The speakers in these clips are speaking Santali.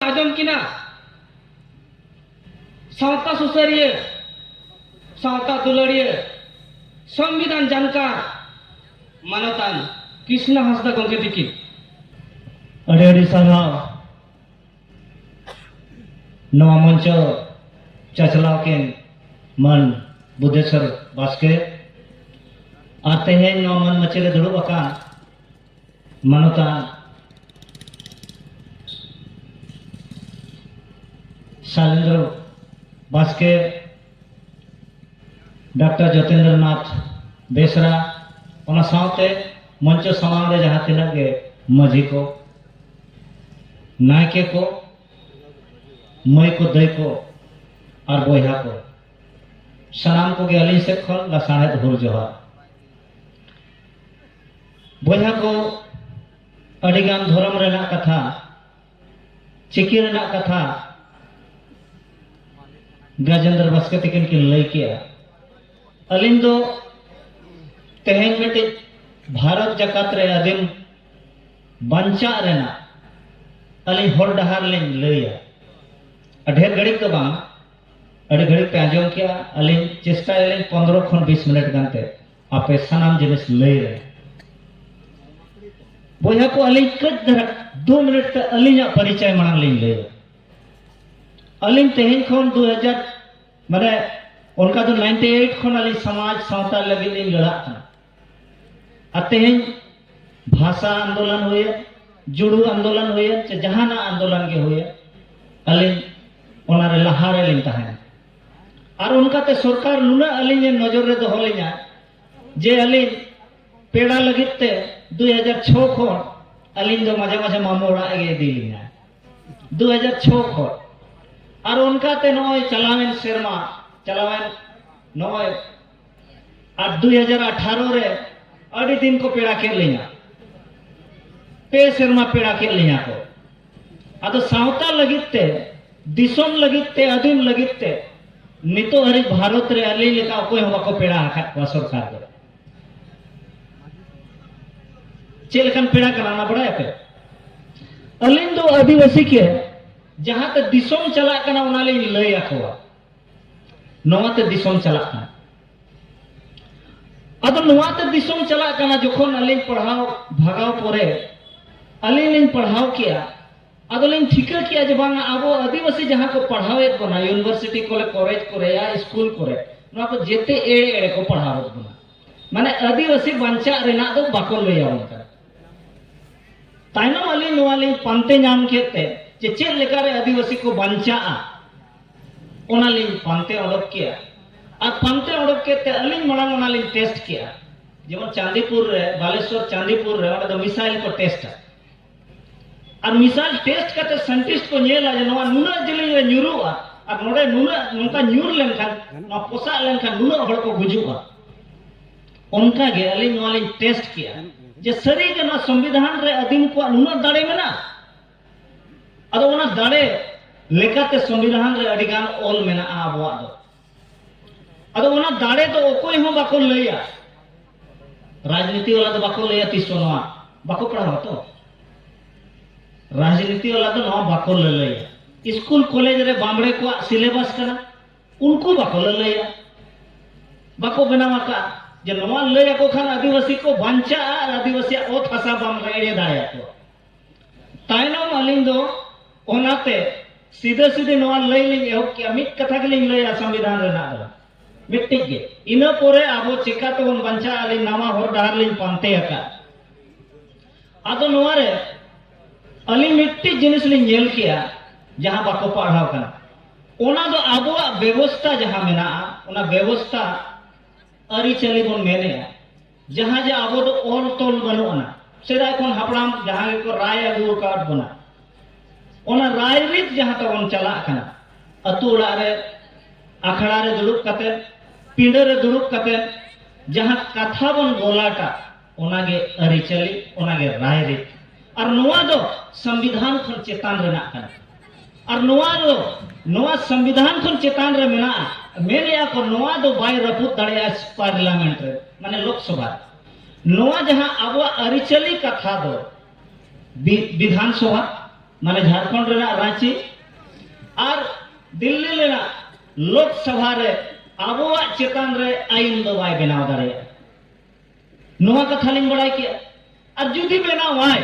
ᱟᱸᱡᱚᱢ ᱠᱤᱱᱟ ᱥᱟᱶᱛᱟ ᱥᱩᱥᱟᱹᱨᱤᱭᱟᱹ ᱥᱟᱶᱛᱟ ᱫᱩᱞᱟᱹᱲᱤᱭᱟᱹ ᱥᱚᱝᱵᱤᱫᱷᱟᱱ ᱡᱟᱱᱠᱟᱨ ᱢᱟᱱᱚᱛᱟᱱ ᱠᱨᱤᱥᱱᱟ ᱦᱟᱸᱥᱫᱟ ᱜᱚᱢᱠᱮ ᱛᱤᱠᱤᱱ ᱟᱹᱰᱤ ᱟᱹᱰᱤ ᱥᱟᱨᱦᱟᱣ ᱱᱚᱣᱟ ᱢᱚᱧᱪᱚ ᱪᱟᱪᱞᱟᱣ ᱠᱤᱱ ᱢᱟᱱ ᱵᱩᱫᱷᱮᱥᱚᱨ ᱵᱟᱥᱠᱮ ᱟᱨ ᱛᱮᱦᱮᱧ ᱱᱚᱣᱟ ᱢᱟᱱ ᱢᱟᱹᱪᱤ ᱨᱮ ᱫᱩᱲᱩᱵ ᱟᱠᱟᱱ ᱢᱟᱱᱚᱛᱟᱱ ᱥᱟᱭᱞᱮᱱᱫᱨᱚ ᱵᱟᱥᱠᱮ ᱰᱟᱠᱛᱟᱨ ᱡᱚᱛᱤᱱᱫᱨᱚ ᱱᱟᱛᱷ ᱵᱮᱥᱨᱟ ᱚᱱᱟ ᱥᱟᱶᱛᱮ ᱢᱚᱧᱪᱚ ᱥᱟᱢᱟᱝ ᱨᱮ ᱡᱟᱦᱟᱸ ᱛᱤᱱᱟᱹᱜ ᱜᱮ ᱢᱟᱹᱡᱷᱤ ᱠᱚ ᱱᱟᱭᱠᱮ ᱠᱚ ᱢᱟᱹᱭ ᱠᱚ ᱫᱟᱹᱭ ᱠᱚ ᱟᱨ ᱵᱚᱭᱦᱟ ᱠᱚ ᱥᱟᱱᱟᱢ ᱠᱚᱜᱮ ᱟᱹᱞᱤᱧ ᱥᱮᱫ ᱠᱷᱚᱱ ᱞᱟᱥᱟᱬᱦᱮᱫ ᱦᱩᱞ ᱡᱚᱦᱟᱨ ᱵᱚᱭᱦᱟ ᱠᱚ ᱟᱹᱰᱤ ᱜᱟᱱ ᱫᱷᱚᱨᱚᱢ ᱨᱮᱱᱟᱜ ᱠᱟᱛᱷᱟ ᱪᱤᱠᱤ ᱨᱮᱱᱟᱜ ᱠᱟᱛᱷᱟ ᱜᱟᱡᱮᱱᱫᱨ ᱵᱟᱥᱠᱮ ᱛᱤᱠᱤᱱ ᱠᱤᱱ ᱞᱟᱹᱭ ᱠᱮᱜᱼᱟ ᱟᱹᱞᱤᱧ ᱫᱚ ᱛᱮᱦᱮᱧ ᱢᱤᱫᱴᱤᱡ ᱵᱷᱟᱨᱚᱛ ᱡᱟᱠᱟᱛ ᱨᱮ ᱟᱹᱫᱤᱢ ᱵᱟᱧᱪᱟᱜ ᱨᱮᱱᱟᱜ ᱟᱹᱞᱤᱧ ᱦᱚᱨ ᱰᱟᱦᱟᱨ ᱞᱤᱧ ᱞᱟᱹᱭᱟ ᱰᱷᱮᱨ ᱜᱷᱟᱹᱲᱤᱡ ᱫᱚ ᱵᱟᱝ ᱟᱹᱰᱤ ᱜᱷᱟᱹᱲᱤᱡ ᱯᱮ ᱟᱸᱡᱚᱢ ᱠᱮᱜᱼᱟ ᱟᱹᱞᱤᱧ ᱪᱮᱥᱴᱟᱭᱟᱞᱤᱧ ᱯᱚᱱᱨᱚ ᱠᱷᱚᱱ ᱵᱤᱥ ᱢᱤᱱᱤᱴ ᱜᱟᱱᱛᱮ ᱟᱯᱮ ᱥᱟᱱᱟᱢ ᱡᱤᱱᱤᱥ ᱞᱟᱹᱭ ᱨᱮ ᱵᱚᱭᱦᱟ ᱠᱚ ᱟᱹᱞᱤᱧ ᱠᱟᱹᱡ ᱫᱷᱟᱨᱟ ᱫᱩ ᱢᱤᱱᱤᱴ ᱛᱮ ᱟᱹᱞᱤᱧᱟᱜ ᱯᱚᱨᱤᱪᱚᱭ ᱢᱟᱲᱟᱝ ᱞᱤᱧ ᱞᱟᱹᱭᱟ ᱟᱹᱞᱤᱧ ᱛᱮᱦᱮᱧ ᱠᱷᱚᱱ ᱫᱩ ᱦᱟᱡᱟᱨ ᱢᱟᱱᱮ ᱚᱱᱠᱟ ᱫᱚ ᱱᱟᱭᱤᱱᱴᱤ ᱮᱭᱤᱴ ᱠᱷᱚᱱ ᱟᱹᱞᱤᱧ ᱥᱚᱢᱟᱡᱽ ᱥᱟᱶᱛᱟ ᱞᱟᱹᱜᱤᱫ ᱞᱤᱧ ᱞᱟᱲᱟᱜ ᱠᱟᱱᱟ ᱟᱨ ᱛᱮᱦᱮᱧ ᱵᱷᱟᱥᱟ ᱟᱱᱫᱳᱞᱚᱱ ᱦᱩᱭᱮᱱ ᱡᱩᱲᱩ ᱟᱱᱫᱳᱞᱚᱱ ᱦᱩᱭᱮᱱ ᱥᱮ ᱡᱟᱦᱟᱱᱟᱜ ᱟᱱᱫᱳᱞᱚᱱ ᱜᱮ ᱦᱩᱭᱮᱱ ᱟᱹᱞᱤᱧ ᱚᱱᱟᱨᱮ ᱞᱟᱦᱟᱨᱮ ᱞᱤᱧ ᱛᱟᱦᱮᱱᱟ ᱟᱨ ᱚᱱᱠᱟᱛᱮ ᱥᱚᱨᱠᱟᱨ ᱱᱩᱱᱟᱹᱜ ᱟᱹᱞᱤᱧ ᱱᱚᱡᱚᱨ ᱨᱮ ᱫᱚᱦᱚ ᱞᱤᱧᱟ ᱡᱮ ᱟᱹᱞᱤᱧ ᱯᱮᱲᱟ ᱞᱟᱹᱜᱤᱫ ᱛᱮ ᱫᱩ ᱦᱟᱡᱟᱨ ᱪᱷᱚ ᱠᱷᱚᱱ ᱟᱹᱞᱤᱧ ᱫᱚ ᱢᱟᱡᱷᱮ ᱢᱟᱡᱷᱮ ᱢᱟᱢᱚ ᱚᱲᱟᱜ ᱜᱮ ᱤᱫᱤ ᱞᱤᱧᱟ ᱫᱩ ᱦᱟᱡᱟᱨ ᱪᱷᱚ ᱠᱷᱚᱱ ᱟᱨ ᱚᱱᱠᱟᱛᱮ ᱱᱚᱜᱼᱚᱭ ᱪᱟᱞᱟᱣᱮᱱ ᱥᱮᱨᱢᱟ ᱪᱟᱞᱟᱣᱮᱱ ᱱᱚᱜᱼᱚᱭ ᱟᱨ ᱫᱩᱭ ᱦᱟᱡᱟᱨ ᱟᱴᱷᱟᱨᱚ ᱨᱮ ᱟᱹᱰᱤ ᱫᱤᱱ ᱠᱚ ᱯᱮᱲᱟ ᱠᱮᱫ ᱞᱤᱧᱟ ᱯᱮ ᱥᱮᱨᱢᱟ ᱯᱮᱲᱟ ᱠᱮᱫ ᱞᱤᱧᱟ ᱠᱚ ᱟᱫᱚ ᱥᱟᱶᱛᱟ ᱞᱟᱹᱜᱤᱫ ᱛᱮ ᱫᱤᱥᱚᱢ ᱞᱟᱹᱜᱤᱫ ᱛᱮ ᱟᱹᱫᱤᱢ ᱞᱟᱹᱜᱤᱫ ᱛᱮ ᱱᱤᱛᱚᱜ ᱦᱟᱹᱨᱤᱡ ᱵᱷᱟᱨᱚᱛ ᱨᱮ ᱟᱹᱞᱤᱧ ᱞᱮᱠᱟ ᱚᱠᱚᱭ ᱦᱚᱸ ᱵᱟᱠᱚ ᱯᱮᱲᱟ ᱟᱠᱟᱫ ᱠᱚᱣᱟ ᱥᱚᱨᱠᱟᱨ ᱫᱚ ᱪᱮᱫ ᱞᱮᱠᱟᱱ ᱯᱮᱲᱟ ᱠᱟᱱᱟ ᱚᱱᱟ ᱵᱟᱲᱟᱭᱟᱯᱮ ᱟᱹᱞᱤᱧ ᱫᱚ ᱟᱹᱫᱤᱵᱟᱹᱥᱤ ᱜᱮ ᱡᱟᱦᱟᱸᱛᱮ ᱫᱤᱥᱚᱢ ᱪᱟᱞᱟᱜ ᱠᱟᱱᱟ ᱚᱱᱟ ᱞᱤᱧ ᱞᱟᱹᱭ ᱟᱠᱚᱣᱟ ᱱᱚᱣᱟ ᱛᱮ ᱫᱤᱥᱚᱢ ᱪᱟᱞᱟᱜ ᱠᱟᱱᱟ ᱟᱫᱚ ᱱᱚᱣᱟ ᱛᱮ ᱫᱤᱥᱚᱢ ᱪᱟᱞᱟᱜ ᱠᱟᱱᱟ ᱡᱚᱠᱷᱚᱱ ᱟᱹᱞᱤᱧ ᱯᱟᱲᱦᱟᱣ ᱵᱷᱟᱜᱟᱣ ᱯᱚᱨᱮ ᱟᱹᱞᱤᱧ ᱞᱤᱧ ᱯᱟᱲᱦᱟᱣ ᱠᱮᱜᱼᱟ ᱟᱫᱚ ᱞᱤᱧ ᱴᱷᱤᱠᱟᱹ ᱠᱮᱜᱼᱟ ᱡᱮ ᱵᱟᱝ ᱟᱵᱚ ᱟᱹᱫᱤᱵᱟᱹᱥᱤ ᱡᱟᱦᱟᱸ ᱠᱚ ᱯᱟᱲᱦᱟᱣᱮᱫ ᱵᱚᱱᱟ ᱤᱭᱩᱱᱤᱵᱷᱟᱨᱥᱤᱴᱤ ᱠᱚᱨᱮ ᱠᱚᱞᱮᱡᱽ ᱠᱚᱨᱮ ᱭᱟ ᱥᱠᱩᱞ ᱠᱚᱨᱮ ᱱᱚᱣᱟ ᱠᱚ ᱡᱮᱛᱮ ᱮᱲᱮ ᱮᱲᱮ ᱠᱚ ᱯᱟᱲᱦᱟᱣᱮᱫ ᱵᱚᱱᱟ ᱢᱟᱱᱮ ᱟᱹᱫᱤᱵᱟᱹᱥᱤ ᱵᱟᱧᱪᱟᱜ ᱨᱮᱱᱟᱜ ᱫᱚ ᱵᱟᱠᱚ ᱞᱟᱹᱭ ᱟᱵᱚᱱ ᱠᱟᱱᱟ ᱛᱟᱭᱱᱚᱢ ᱟᱹᱞᱤᱧ ᱱᱚᱣᱟ ᱞᱤᱧ ᱯᱟᱱᱛᱮ ᱧᱟᱢ ᱠᱮᱫ ᱛᱮ ᱡᱮ ᱪᱮᱫ ᱞᱮᱠᱟᱨᱮ ᱟᱹᱫᱤᱵᱟᱹᱥᱤ ᱠᱚ ᱵᱟᱧᱪᱟᱜᱼᱟ ᱚᱱᱟᱞᱤᱧ ᱯᱟᱱᱛᱮ ᱚᱰᱳᱠ ᱠᱮᱜᱼᱟ ᱟᱨ ᱯᱟᱱᱛᱮ ᱚᱰᱳᱠ ᱠᱮᱫ ᱛᱮ ᱟᱹᱞᱤᱧ ᱢᱟᱲᱟᱝ ᱚᱱᱟᱞᱤᱧ ᱴᱮᱥᱴ ᱠᱮᱜᱼᱟ ᱡᱮᱢᱚᱱ ᱪᱟᱸᱫᱤᱯᱩᱨ ᱨᱮ ᱵᱟᱞᱮᱥᱚᱨ ᱪᱟᱸᱫᱤᱯᱩᱨ ᱨᱮ ᱚᱸᱰᱮ ᱫᱚ ᱢᱤᱥᱟᱭᱤᱞ ᱠᱚ ᱴᱮᱥᱴᱟ ᱟᱨ ᱢᱤᱥᱟᱭᱤᱞ ᱴᱮᱥᱴ ᱠᱟᱛᱮ ᱥᱟᱭᱮᱱᱴᱤᱥᱴ ᱠᱚ ᱧᱮᱞᱟ ᱡᱮ ᱱᱚᱣᱟ ᱱᱩᱱᱟᱹᱜ ᱡᱮᱞᱮᱧ ᱨᱮ ᱧᱩᱨᱩᱜᱼᱟ ᱟᱨ ᱱᱚᱰᱮ ᱱᱩᱱᱟᱹᱜ ᱱᱚᱝᱠᱟ ᱧᱩᱨ ᱞᱮᱱᱠᱷᱟᱱ ᱱᱚᱣᱟ ᱯᱚᱥᱟᱜ ᱞᱮᱱᱠᱷᱟᱱ ᱱᱩᱱᱟᱹᱜ ᱦᱚᱲ ᱠᱚ ᱜᱩᱡᱩᱜᱼᱟ ᱚᱱᱠᱟ ᱜᱮ ᱟᱹᱞᱤᱧ ᱱᱚᱣᱟ ᱞᱤᱧ ᱴᱮᱥᱴ ᱠᱮᱜᱼᱟ ᱡᱮ ᱥᱟᱹᱨᱤᱜᱮ ᱱᱚᱣᱟ ᱥᱚᱝᱵᱤᱫᱷᱟᱱ ᱨᱮ ᱟᱹᱫᱤᱢ ᱠᱚᱣᱟᱜ ᱱᱩᱱᱟᱹᱜ ᱫᱟᱲᱮ ᱢᱮᱱᱟᱜᱼᱟ ᱟᱫᱚ ᱚᱱᱟ ᱫᱟᱲᱮ ᱞᱮᱠᱟᱛᱮ ᱥᱚᱝᱵᱤᱫᱷᱟᱱ ᱨᱮ ᱟᱹᱰᱤ ᱜᱟᱱ ᱚᱞ ᱢᱮᱱᱟᱜᱼᱟ ᱟᱵᱚᱣᱟᱜ ᱫᱚ ᱟᱫᱚ ᱚᱱᱟ ᱫᱟᱲᱮ ᱫᱚ ᱚᱠᱚᱭ ᱦᱚᱸ ᱵᱟᱠᱚ ᱞᱟᱹᱭᱟ ᱨᱟᱡᱽᱱᱤᱛᱤ ᱵᱟᱞᱟ ᱫᱚ ᱵᱟᱠᱚ ᱞᱟᱹᱭᱟ ᱛᱤᱥ ᱦᱚᱸ ᱱᱚᱣᱟ ᱵᱟᱠᱚ ᱯᱟᱲᱦᱟᱣᱟ ᱛᱚ ᱨᱟᱡᱽᱱᱤᱛᱤ ᱵᱟᱞᱟ ᱫᱚ ᱱᱚᱣᱟ ᱵᱟᱠᱚ ᱞᱟᱹᱞᱟᱹᱭᱟ ᱥᱠᱩᱞ ᱠᱚᱞᱮᱡᱽ ᱨᱮ ᱵᱟᱢᱲᱮ ᱠᱚᱣᱟᱜ ᱥᱤᱞᱮᱵᱟᱥ ᱠᱟᱱᱟ ᱩᱱᱠᱩ ᱵᱟᱠᱚ ᱞᱟᱹᱞᱟᱹᱭᱟ ᱵᱟᱠᱚ ᱵᱮᱱᱟᱣ ᱟᱠᱟᱫᱼᱟ ᱡᱮ ᱱᱚᱣᱟ ᱞᱟᱹᱭ ᱟᱠᱚ ᱠᱷᱟᱱ ᱟᱹᱫᱤᱵᱟᱹᱥᱤ ᱠᱚ ᱵᱟᱧᱪᱟᱜᱼᱟ ᱟᱨ ᱟᱹᱫᱤᱵᱟᱹᱥᱤᱭᱟᱜ ᱚᱛ ᱦᱟᱥᱟ ᱵᱟᱢ ᱮᱲᱮ ᱫᱟᱲᱮᱭᱟᱠᱚᱣᱟ ᱛᱟᱭᱱᱚᱢ ᱟᱹᱞᱤᱧ ᱫᱚ ᱚᱱᱟᱛᱮ ᱥᱤᱫᱷᱟᱹ ᱥᱤᱫᱷᱟᱹ ᱱᱚᱣᱟ ᱞᱟᱹᱭ ᱞᱤᱧ ᱮᱦᱚᱵ ᱠᱮᱜᱼᱟ ᱢᱤᱫ ᱠᱟᱛᱷᱟ ᱜᱮᱞᱤᱧ ᱞᱟᱹᱭᱟ ᱥᱚᱝᱵᱤᱫᱷᱟᱱ ᱨᱮᱱᱟᱜ ᱫᱚ ᱢᱤᱫᱴᱤᱡ ᱜᱮ ᱤᱱᱟᱹ ᱯᱚᱨᱮ ᱟᱵᱚ ᱪᱮᱠᱟ ᱛᱮᱵᱚᱱ ᱵᱟᱧᱪᱟᱜᱼᱟ ᱟᱹᱞᱤᱧ ᱱᱟᱣᱟ ᱦᱚᱨ ᱰᱟᱦᱟᱨ ᱞᱤᱧ ᱯᱟᱱᱛᱮ ᱟᱠᱟᱫ ᱟᱫᱚ ᱱᱚᱣᱟ ᱨᱮ ᱟᱹᱞᱤᱧ ᱢᱤᱫᱴᱤᱡ ᱡᱤᱱᱤᱥ ᱞᱤᱧ ᱧᱮᱞ ᱠᱮᱜᱼᱟ ᱡᱟᱦᱟᱸ ᱵᱟᱠᱚ ᱯᱟᱲᱦᱟᱣ ᱠᱟᱱᱟ ᱚᱱᱟ ᱫᱚ ᱟᱵᱚᱣᱟᱜ ᱵᱮᱵᱚᱥᱛᱟ ᱡᱟᱦᱟᱸ ᱢᱮᱱᱟᱜᱼᱟ ᱚᱱᱟ ᱵᱮᱵᱚᱥᱛᱟ ᱟᱹᱨᱤᱪᱟᱹᱞᱤ ᱵᱚᱱ ᱢᱮᱱᱮᱜᱼᱟ ᱡᱟᱦᱟᱸ ᱡᱮ ᱟᱵᱚ ᱫᱚ ᱚᱞ ᱛᱚᱞ ᱵᱟᱹᱱᱩᱜ ᱟᱱᱟ ᱥᱮᱫᱟᱭ ᱠᱷᱚᱱ ᱦᱟᱯᱲᱟᱢ ᱡᱟᱦᱟᱸ ᱜᱮᱠᱚ ᱨᱟᱭ ᱟᱹᱜᱩ ᱟᱠᱟᱫ ᱵᱚᱱᱟ ᱚᱱᱟ ᱨᱟᱭ ᱨᱤᱛ ᱡᱟᱦᱟᱸ ᱛᱟᱵᱚᱱ ᱪᱟᱞᱟᱜ ᱠᱟᱱᱟ ᱟᱹᱛᱩ ᱚᱲᱟᱜ ᱨᱮ ᱟᱠᱷᱲᱟ ᱨᱮ ᱫᱩᱲᱩᱵ ᱠᱟᱛᱮ ᱯᱤᱸᱰᱟᱹ ᱨᱮ ᱫᱩᱲᱩᱵ ᱠᱟᱛᱮ ᱡᱟᱦᱟᱸ ᱠᱟᱛᱷᱟ ᱵᱚᱱ ᱜᱚᱞᱟᱴᱟ ᱚᱱᱟᱜᱮ ᱟᱹᱨᱤᱪᱟᱹᱞᱤ ᱚᱱᱟᱜᱮ ᱨᱟᱭ ᱨᱤᱛ ᱟᱨ ᱱᱚᱣᱟ ᱫᱚ ᱥᱚᱝᱵᱤᱫᱷᱟᱱ ᱠᱷᱚᱱ ᱪᱮᱛᱟᱱ ᱨᱮᱱᱟᱜ ᱠᱟᱱᱟ ᱟᱨ ᱱᱚᱣᱟ ᱫᱚ ᱱᱚᱣᱟ ᱥᱚᱝᱵᱤᱫᱷᱟᱱ ᱠᱷᱚᱱ ᱪᱮᱛᱟᱱ ᱨᱮ ᱢᱮᱱᱟᱜᱼᱟ ᱢᱮᱱᱮᱜᱼᱟ ᱠᱚ ᱱᱚᱣᱟ ᱫᱚ ᱵᱟᱭ ᱨᱟᱹᱯᱩᱫ ᱫᱟᱲᱮᱭᱟᱜᱼᱟ ᱯᱟᱨᱞᱟᱢᱮᱱᱴ ᱨᱮ ᱢᱟᱱᱮ ᱞᱳᱠᱥᱚᱵᱷᱟ ᱱᱚᱣᱟ ᱡᱟᱦᱟᱸ ᱟᱵᱚᱣᱟᱜ ᱟᱹᱨᱤᱪᱟᱹᱞᱤ ᱠᱟᱛᱷᱟ ᱫᱚ ᱵᱤᱫᱷᱟᱱ ᱥᱚᱵᱷᱟ ᱢᱟᱱᱮ ᱡᱷᱟᱲᱠᱷᱚᱸᱰ ᱨᱮᱱᱟᱜ ᱨᱟᱺᱪᱤ ᱟᱨ ᱫᱤᱞᱞᱤ ᱨᱮᱱᱟᱜ ᱞᱳᱠᱥᱚᱵᱷᱟ ᱨᱮ ᱟᱵᱚᱣᱟᱜ ᱪᱮᱛᱟᱱ ᱨᱮ ᱟᱭᱤᱱ ᱫᱚ ᱵᱟᱭ ᱵᱮᱱᱟᱣ ᱫᱟᱲᱮᱭᱟᱜᱼᱟ ᱱᱚᱣᱟ ᱠᱟᱛᱷᱟ ᱞᱤᱧ ᱵᱟᱲᱟᱭ ᱠᱮᱜᱼᱟ ᱟᱨ ᱡᱩᱫᱤ ᱵᱮᱱᱟᱣᱟᱭ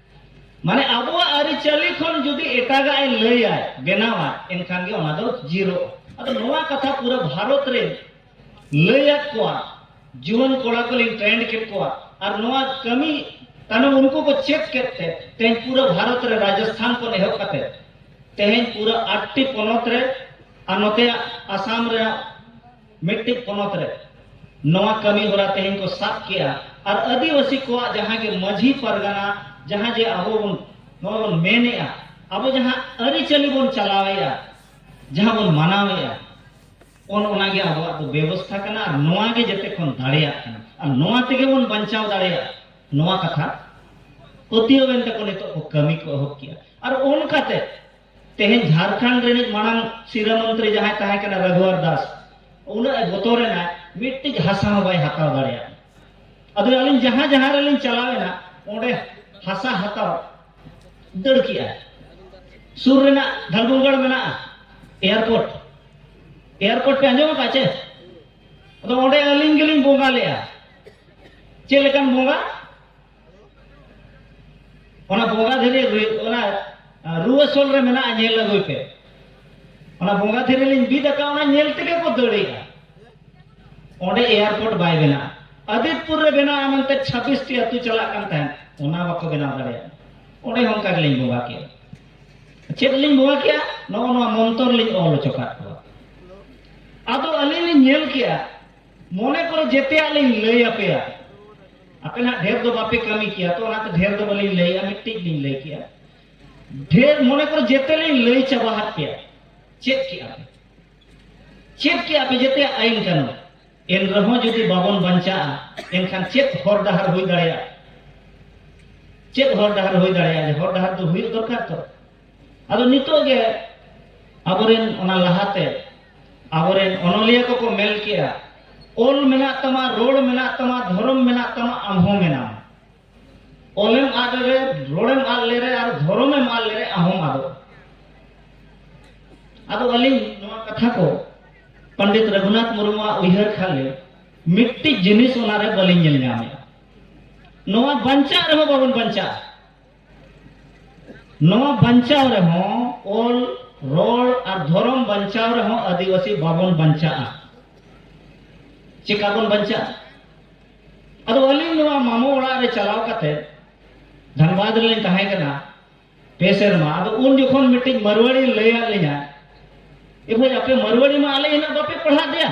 ᱢᱟᱱᱮ ᱟᱵᱚᱣᱟᱜ ᱟᱹᱨᱤᱪᱟᱹᱞᱤ ᱠᱷᱚᱱ ᱡᱩᱫᱤ ᱮᱴᱟᱜᱟᱜ ᱮ ᱞᱟᱹᱭᱟᱭ ᱵᱮᱱᱟᱣᱟᱭ ᱮᱱᱠᱷᱟᱱ ᱜᱮ ᱚᱱᱟ ᱫᱚ ᱡᱤᱨᱚᱜᱼᱟ ᱟᱫᱚ ᱱᱚᱣᱟ ᱠᱟᱛᱷᱟ ᱯᱩᱨᱟᱹ ᱵᱷᱟᱨᱚᱛ ᱨᱮ ᱞᱟᱹᱭᱟᱫ ᱠᱚᱣᱟ ᱡᱩᱣᱟᱹᱱ ᱠᱚᱲᱟ ᱠᱚ ᱞᱤᱧ ᱴᱨᱮᱱᱰ ᱠᱮᱫ ᱠᱚᱣᱟ ᱟᱨ ᱱᱚᱣᱟ ᱠᱟᱹᱢᱤ ᱛᱟᱭᱱᱚᱢ ᱩᱱᱠᱩ ᱠᱚ ᱪᱮᱫ ᱠᱮᱫ ᱛᱮ ᱛᱮᱦᱮᱧ ᱯᱩᱨᱟᱹ ᱵᱷᱟᱨᱚᱛ ᱨᱮ ᱨᱟᱡᱚᱥᱛᱷᱟᱱ ᱠᱷᱚᱱ ᱮᱦᱚᱵ ᱠᱟᱛᱮ ᱛᱮᱦᱮᱧ ᱯᱩᱨᱟᱹ ᱟᱴᱴᱤ ᱯᱚᱱᱚᱛ ᱨᱮ ᱟᱨ ᱱᱚᱛᱮ ᱟᱥᱟᱢ ᱨᱮ ᱢᱤᱫᱴᱤᱡ ᱯᱚᱱᱚᱛ ᱨᱮ ᱱᱚᱣᱟ ᱠᱟᱹᱢᱤ ᱦᱚᱨᱟ ᱛᱮᱦᱮᱧ ᱠᱚ ᱥᱟᱵ ᱠᱮᱜᱼᱟ ᱟᱨ ᱟᱹᱫᱤᱵᱟᱹᱥᱤ ᱠᱚᱣᱟᱜ ᱡᱟᱦᱟᱸ ᱜᱮ ᱢᱟᱹᱡᱷᱤ ᱯᱟᱨᱜᱟᱱᱟ ᱡᱟᱦᱟᱸ ᱡᱮ ᱟᱵᱚ ᱵᱚᱱ ᱱᱚᱜᱼᱚᱭ ᱵᱚᱱ ᱢᱮᱱᱮᱜᱼᱟ ᱟᱵᱚ ᱡᱟᱦᱟᱸ ᱟᱹᱨᱤᱪᱟᱹᱞᱤ ᱵᱚᱱ ᱪᱟᱞᱟᱣᱮᱜᱼᱟ ᱡᱟᱦᱟᱸ ᱵᱚᱱ ᱢᱟᱱᱟᱣᱮᱜᱼᱟ ᱚᱱ ᱚᱱᱟᱜᱮ ᱟᱵᱚᱣᱟᱜ ᱫᱚ ᱵᱮᱵᱚᱥᱛᱷᱟ ᱠᱟᱱᱟ ᱟᱨ ᱱᱚᱣᱟ ᱜᱮ ᱡᱮᱛᱮ ᱠᱷᱚᱱ ᱫᱟᱲᱮᱭᱟᱜ ᱠᱟᱱᱟ ᱟᱨ ᱱᱚᱣᱟ ᱛᱮᱜᱮ ᱵᱚᱱ ᱵᱟᱧᱪᱟᱣ ᱫᱟᱲᱮᱭᱟᱜᱼᱟ ᱱᱚᱣᱟ ᱠᱟᱛᱷᱟ ᱯᱟᱹᱛᱭᱟᱹᱣᱮᱱ ᱛᱮᱠᱚ ᱱᱤᱛᱚᱜ ᱠᱚ ᱠᱟᱹᱢᱤ ᱠᱚ ᱮᱦᱚᱵ ᱠᱮᱜᱼᱟ ᱟᱨ ᱚᱱᱠᱟᱛᱮ ᱛᱮᱦᱮᱧ ᱡᱷᱟᱨᱠᱷᱚᱸᱰ ᱨᱤᱱᱤᱡ ᱢᱟᱲᱟᱝ ᱥᱤᱨᱟᱹ ᱢᱚᱱᱛᱨᱤ ᱡᱟᱦᱟᱸᱭ ᱛᱟᱦᱮᱸ ᱠᱟᱱᱟ ᱨᱟᱜᱷᱩᱣᱟᱨ ᱫᱟᱥ ᱩᱱᱟᱹᱜ ᱮ ᱵᱚᱛᱚᱨᱮᱱᱟ ᱢᱤᱫᱴᱤᱡ ᱦᱟᱥᱟ ᱦᱚᱸ ᱵᱟᱭ ᱦᱟᱛᱟᱣ ᱫᱟᱲᱮᱭᱟᱜ ᱟᱫᱚ ᱟᱹᱞᱤᱧ ᱡᱟᱦᱟᱸ ᱡᱟᱦᱟᱸ ᱨᱮᱞᱤᱧ ᱪᱟᱞᱟᱣᱮᱱᱟ ᱚᱸᱰᱮ ᱦᱟᱥᱟ ᱦᱟᱛᱟᱣ ᱫᱟᱹᱲ ᱠᱮᱜᱼᱟᱭ ᱥᱩᱨ ᱨᱮᱱᱟᱜ ᱫᱷᱟᱞᱵᱩᱝᱜᱟᱲ ᱢᱮᱱᱟᱜᱼᱟ ᱮᱭᱟᱨᱯᱳᱨᱴ ᱮᱭᱟᱨᱯᱳᱨᱴ ᱯᱮ ᱟᱸᱡᱚᱢ ᱟᱠᱟᱫ ᱪᱮ ᱟᱫᱚ ᱚᱸᱰᱮ ᱟᱹᱞᱤᱧ ᱜᱮᱞᱤᱧ ᱵᱚᱸᱜᱟ ᱞᱮᱜᱼᱟ ᱪᱮᱫ ᱞᱮᱠᱟᱱ ᱵᱚᱸᱜᱟ ᱚᱱᱟ ᱵᱚᱸᱜᱟ ᱫᱷᱤᱨᱤ ᱚᱱᱟ ᱨᱩᱣᱟᱹ ᱥᱚᱞ ᱨᱮ ᱢᱮᱱᱟᱜᱼᱟ ᱧᱮᱞ ᱟᱹᱜᱩᱭ ᱯᱮ ᱚᱱᱟ ᱵᱚᱸᱜᱟ ᱫᱷᱤᱨᱤ ᱞᱤᱧ ᱵᱤᱫ ᱟᱠᱟᱫ ᱚᱱᱟ ᱧᱮᱞ ᱛᱮᱜᱮ ᱠᱚ ᱫᱟᱹᱲᱮᱜᱼᱟ ᱚᱸᱰᱮ ᱮᱭᱟᱨᱯᱳᱨᱴ ᱵᱟᱭ ᱵᱮᱱᱟᱜᱼᱟ ᱟᱫᱤᱛᱯᱩᱨ ᱨᱮ ᱵᱮᱱᱟᱜᱼᱟ ᱢᱮᱱᱛᱮ ᱪᱷᱟᱵᱵᱤᱥᱴᱤ ᱟᱹᱛᱩ ᱪᱟᱞᱟᱜ ᱠᱟᱱ ᱛᱟᱦᱮᱸᱫ ᱚᱱᱟ ᱵᱟᱠᱚ ᱵᱮᱱᱟᱣ ᱫᱟᱲᱮᱭᱟᱜᱼᱟ ᱚᱸᱰᱮ ᱦᱚᱸ ᱚᱱᱠᱟ ᱜᱮᱞᱤᱧ ᱵᱚᱸᱜᱟ ᱠᱮᱜᱼᱟ ᱪᱮᱫ ᱞᱤᱧ ᱵᱚᱸᱜᱟ ᱠᱮᱜᱼᱟ ᱱᱚᱜᱼᱚ ᱱᱚᱣᱟ ᱢᱚᱱᱛᱚᱨ ᱞᱤᱧ ᱚᱞ ᱦᱚᱪᱚ ᱠᱟᱜ ᱠᱚᱣᱟ ᱟᱫᱚ ᱟᱹᱞᱤᱧ ᱞᱤᱧ ᱧᱮᱞ ᱠᱮᱜᱼᱟ ᱢᱚᱱᱮ ᱠᱚᱨᱮ ᱡᱮᱛᱮᱭᱟᱜ ᱞᱤᱧ ᱞᱟᱹᱭ ᱟᱯᱮᱭᱟ ᱟᱯᱮ ᱱᱟᱜ ᱰᱷᱮᱨ ᱫᱚ ᱵᱟᱯᱮ ᱠᱟᱹᱢᱤ ᱠᱮᱭᱟ ᱛᱚ ᱚᱱᱟᱛᱮ ᱰᱷᱮᱨ ᱫᱚ ᱵᱟᱹᱞᱤᱧ ᱞᱟᱹᱭᱟ ᱢᱤᱫᱴᱤᱡ ᱞᱤᱧ ᱞᱟᱹᱭ ᱠᱮᱭᱟ ᱰᱷᱮᱨ ᱢᱚᱱᱮ ᱠᱚᱨᱮ ᱡᱮᱛᱮ ᱞᱤᱧ ᱞᱟᱹᱭ ᱪᱟᱵᱟ ᱟᱫ ᱯᱮᱭᱟ ᱪᱮᱫ ᱠᱮᱜᱼᱟ ᱯᱮ ᱪᱮᱫ ᱠᱮᱜᱼᱟ ᱯᱮ ᱡᱮᱛᱮᱭᱟᱜ ᱟᱹᱭᱤᱱ ᱠᱟᱹᱱᱩᱱ ᱮᱱ ᱨᱮᱦᱚᱸ ᱡᱩᱫᱤ ᱵᱟᱵᱚᱱ ᱵᱟᱧᱪᱟᱜᱼᱟ ᱮᱱᱠᱷᱟᱱ ᱪᱮᱫ ᱦᱚᱨ ᱰᱟᱦᱟᱨ ᱦᱩᱭ ᱫᱟᱲᱮᱭᱟᱜᱼᱟ ᱪᱮᱫ ᱦᱚᱨ ᱰᱟᱦᱟᱨ ᱦᱩᱭ ᱫᱟᱲᱮᱭᱟᱜᱼᱟ ᱦᱚᱨ ᱰᱟᱦᱟᱨ ᱫᱚ ᱦᱩᱭᱩᱜ ᱫᱚᱨᱠᱟᱨ ᱛᱚ ᱟᱫᱚ ᱱᱤᱛᱚᱜ ᱜᱮ ᱟᱵᱚᱨᱮᱱ ᱚᱱᱟ ᱞᱟᱦᱟᱛᱮ ᱟᱵᱚᱨᱮᱱ ᱚᱱᱚᱞᱤᱭᱟᱹ ᱠᱚᱠᱚ ᱢᱮᱱ ᱠᱮᱜᱼᱟ ᱚᱞ ᱢᱮᱱᱟᱜ ᱛᱟᱢᱟ ᱨᱚᱲ ᱢᱮᱱᱟᱜ ᱛᱟᱢᱟ ᱫᱷᱚᱨᱚᱢ ᱢᱮᱱᱟᱜ ᱛᱟᱢᱟ ᱟᱢ ᱦᱚᱸ ᱢᱮᱱᱟᱢ ᱚᱞᱮᱢ ᱟᱫ ᱞᱮᱨᱮ ᱨᱚᱲᱮᱢ ᱟᱫ ᱞᱮᱨᱮ ᱟᱨ ᱫᱷᱚᱨᱚᱢᱮᱢ ᱟᱫ ᱞᱮᱨᱮ ᱟᱢ ᱦᱚᱸᱢ ᱟᱫᱚᱜᱼᱟ ᱟᱫᱚ ᱟᱹᱞᱤᱧ ᱱᱚᱣᱟ ᱠᱟᱛᱷᱟ ᱠᱚ ᱯᱚᱱᱰᱤᱛ ᱨᱚᱜᱷᱩᱱᱟᱛᱷ ᱢᱩᱨᱢᱩᱣᱟᱜ ᱩᱭᱦᱟᱹᱨ ᱠᱷᱟᱱ ᱞᱮ ᱢᱤᱫᱴᱤᱡ ᱡᱤᱱᱤᱥ ᱚᱱᱟᱨᱮ ᱵᱟᱹᱞᱤᱧ ᱧᱮᱞ ᱧᱟᱢᱮᱜᱼᱟ ᱱᱚᱣᱟ ᱵᱟᱧᱪᱟᱜ ᱨᱮᱦᱚᱸ ᱵᱟᱵᱚᱱ ᱵᱟᱧᱪᱟᱜᱼᱟ ᱱᱚᱣᱟ ᱵᱟᱧᱪᱟᱣ ᱨᱮᱦᱚᱸ ᱚᱞ ᱨᱚᱲ ᱟᱨ ᱫᱷᱚᱨᱚᱢ ᱵᱟᱧᱪᱟᱣ ᱨᱮᱦᱚᱸ ᱟᱹᱫᱤᱵᱟᱹᱥᱤ ᱵᱟᱵᱚᱱ ᱵᱟᱧᱪᱟᱜᱼᱟ ᱪᱮᱠᱟ ᱵᱚᱱ ᱵᱟᱧᱪᱟᱜᱼᱟ ᱟᱫᱚ ᱟᱹᱞᱤᱧ ᱱᱚᱣᱟ ᱢᱟᱢᱚ ᱚᱲᱟᱜ ᱨᱮ ᱪᱟᱞᱟᱣ ᱠᱟᱛᱮ ᱫᱷᱟᱱᱵᱟᱫᱽ ᱨᱮᱞᱤᱧ ᱛᱟᱦᱮᱸ ᱠᱟᱱᱟ ᱯᱮ ᱥᱮᱨᱢᱟ ᱟᱫᱚ ᱩᱱ ᱡᱚᱠᱷᱚᱱ ᱢᱤᱫᱴᱤᱡ ᱢᱟᱨᱣᱟᱲᱤ ᱞᱟᱹᱭᱟᱫ ᱞᱤᱧᱟ ᱮ ᱵᱷᱟᱹᱭ ᱟᱯᱮ ᱢᱟᱨᱣᱟᱲᱤ ᱢᱟ ᱟᱞᱮ ᱦᱤᱱᱟᱹᱜ ᱵᱟᱯᱮ ᱯᱟᱲᱦᱟᱜ ᱞᱮᱭᱟ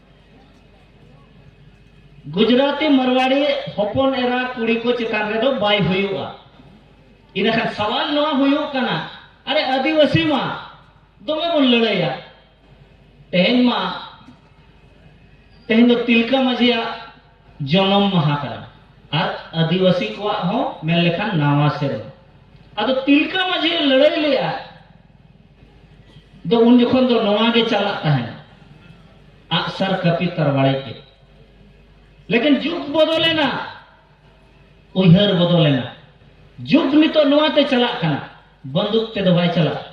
ᱜᱩᱡᱽᱨᱟᱴᱤ ᱢᱟᱨᱣᱟᱲᱤ ᱦᱚᱯᱚᱱ ᱮᱨᱟ ᱠᱩᱲᱤ ᱠᱚ ᱪᱮᱛᱟᱱ ᱨᱮᱫᱚ ᱵᱟᱭ ᱦᱩᱭᱩᱜᱼᱟ ᱤᱱᱟᱹᱠᱷᱟᱱ ᱥᱟᱣᱟᱞ ᱱᱚᱣᱟ ᱦᱩᱭᱩᱜ ᱠᱟᱱᱟ ᱟᱨᱮ ᱟᱹᱫᱤᱵᱟᱹᱥᱤ ᱢᱟ ᱫᱚᱢᱮ ᱵᱚᱱ ᱞᱟᱹᱲᱟᱹᱭᱟ ᱛᱮᱦᱮᱧ ᱢᱟ ᱛᱮᱦᱮᱧ ᱫᱚ ᱛᱤᱞᱠᱟᱹ ᱢᱟᱹᱡᱷᱤᱭᱟᱜ ᱡᱚᱱᱚᱢ ᱢᱟᱦᱟ ᱠᱟᱱᱟ ᱟᱨ ᱟᱹᱫᱤᱵᱟᱹᱥᱤ ᱠᱚᱣᱟᱜ ᱦᱚᱸ ᱢᱮᱱ ᱞᱮᱠᱷᱟᱱ ᱱᱟᱣᱟ ᱥᱮᱨᱢᱟ ᱟᱫᱚ ᱛᱤᱞᱠᱟᱹ ᱢᱟᱹᱡᱷᱤ ᱞᱟᱹᱲᱟᱹᱭ ᱞᱮᱫᱼᱟ ᱫᱚ ᱩᱱ ᱡᱚᱠᱷᱚᱱ ᱫᱚ ᱱᱚᱣᱟ ᱜᱮ ᱪᱟᱞᱟᱜ ᱛᱟᱦᱮᱱ ᱟᱜᱥᱟᱨ ᱠᱟᱹᱯᱤ ᱛᱟᱨᱣᱟᱲᱤ ᱜᱮ ᱞᱮᱠᱤᱱ ᱡᱩᱜᱽ ᱵᱚᱫᱚᱞᱮᱱᱟ ᱩᱭᱦᱟᱹᱨ ᱵᱚᱫᱚᱞᱮᱱᱟ ᱡᱩᱜᱽ ᱱᱤᱛᱚᱜ ᱱᱚᱣᱟ ᱛᱮ ᱪᱟᱞᱟᱜ ᱠᱟᱱᱟ ᱵᱟᱱᱫᱩᱠ ᱛᱮᱫᱚ ᱵᱟᱭ ᱪᱟᱞᱟᱜᱼᱟ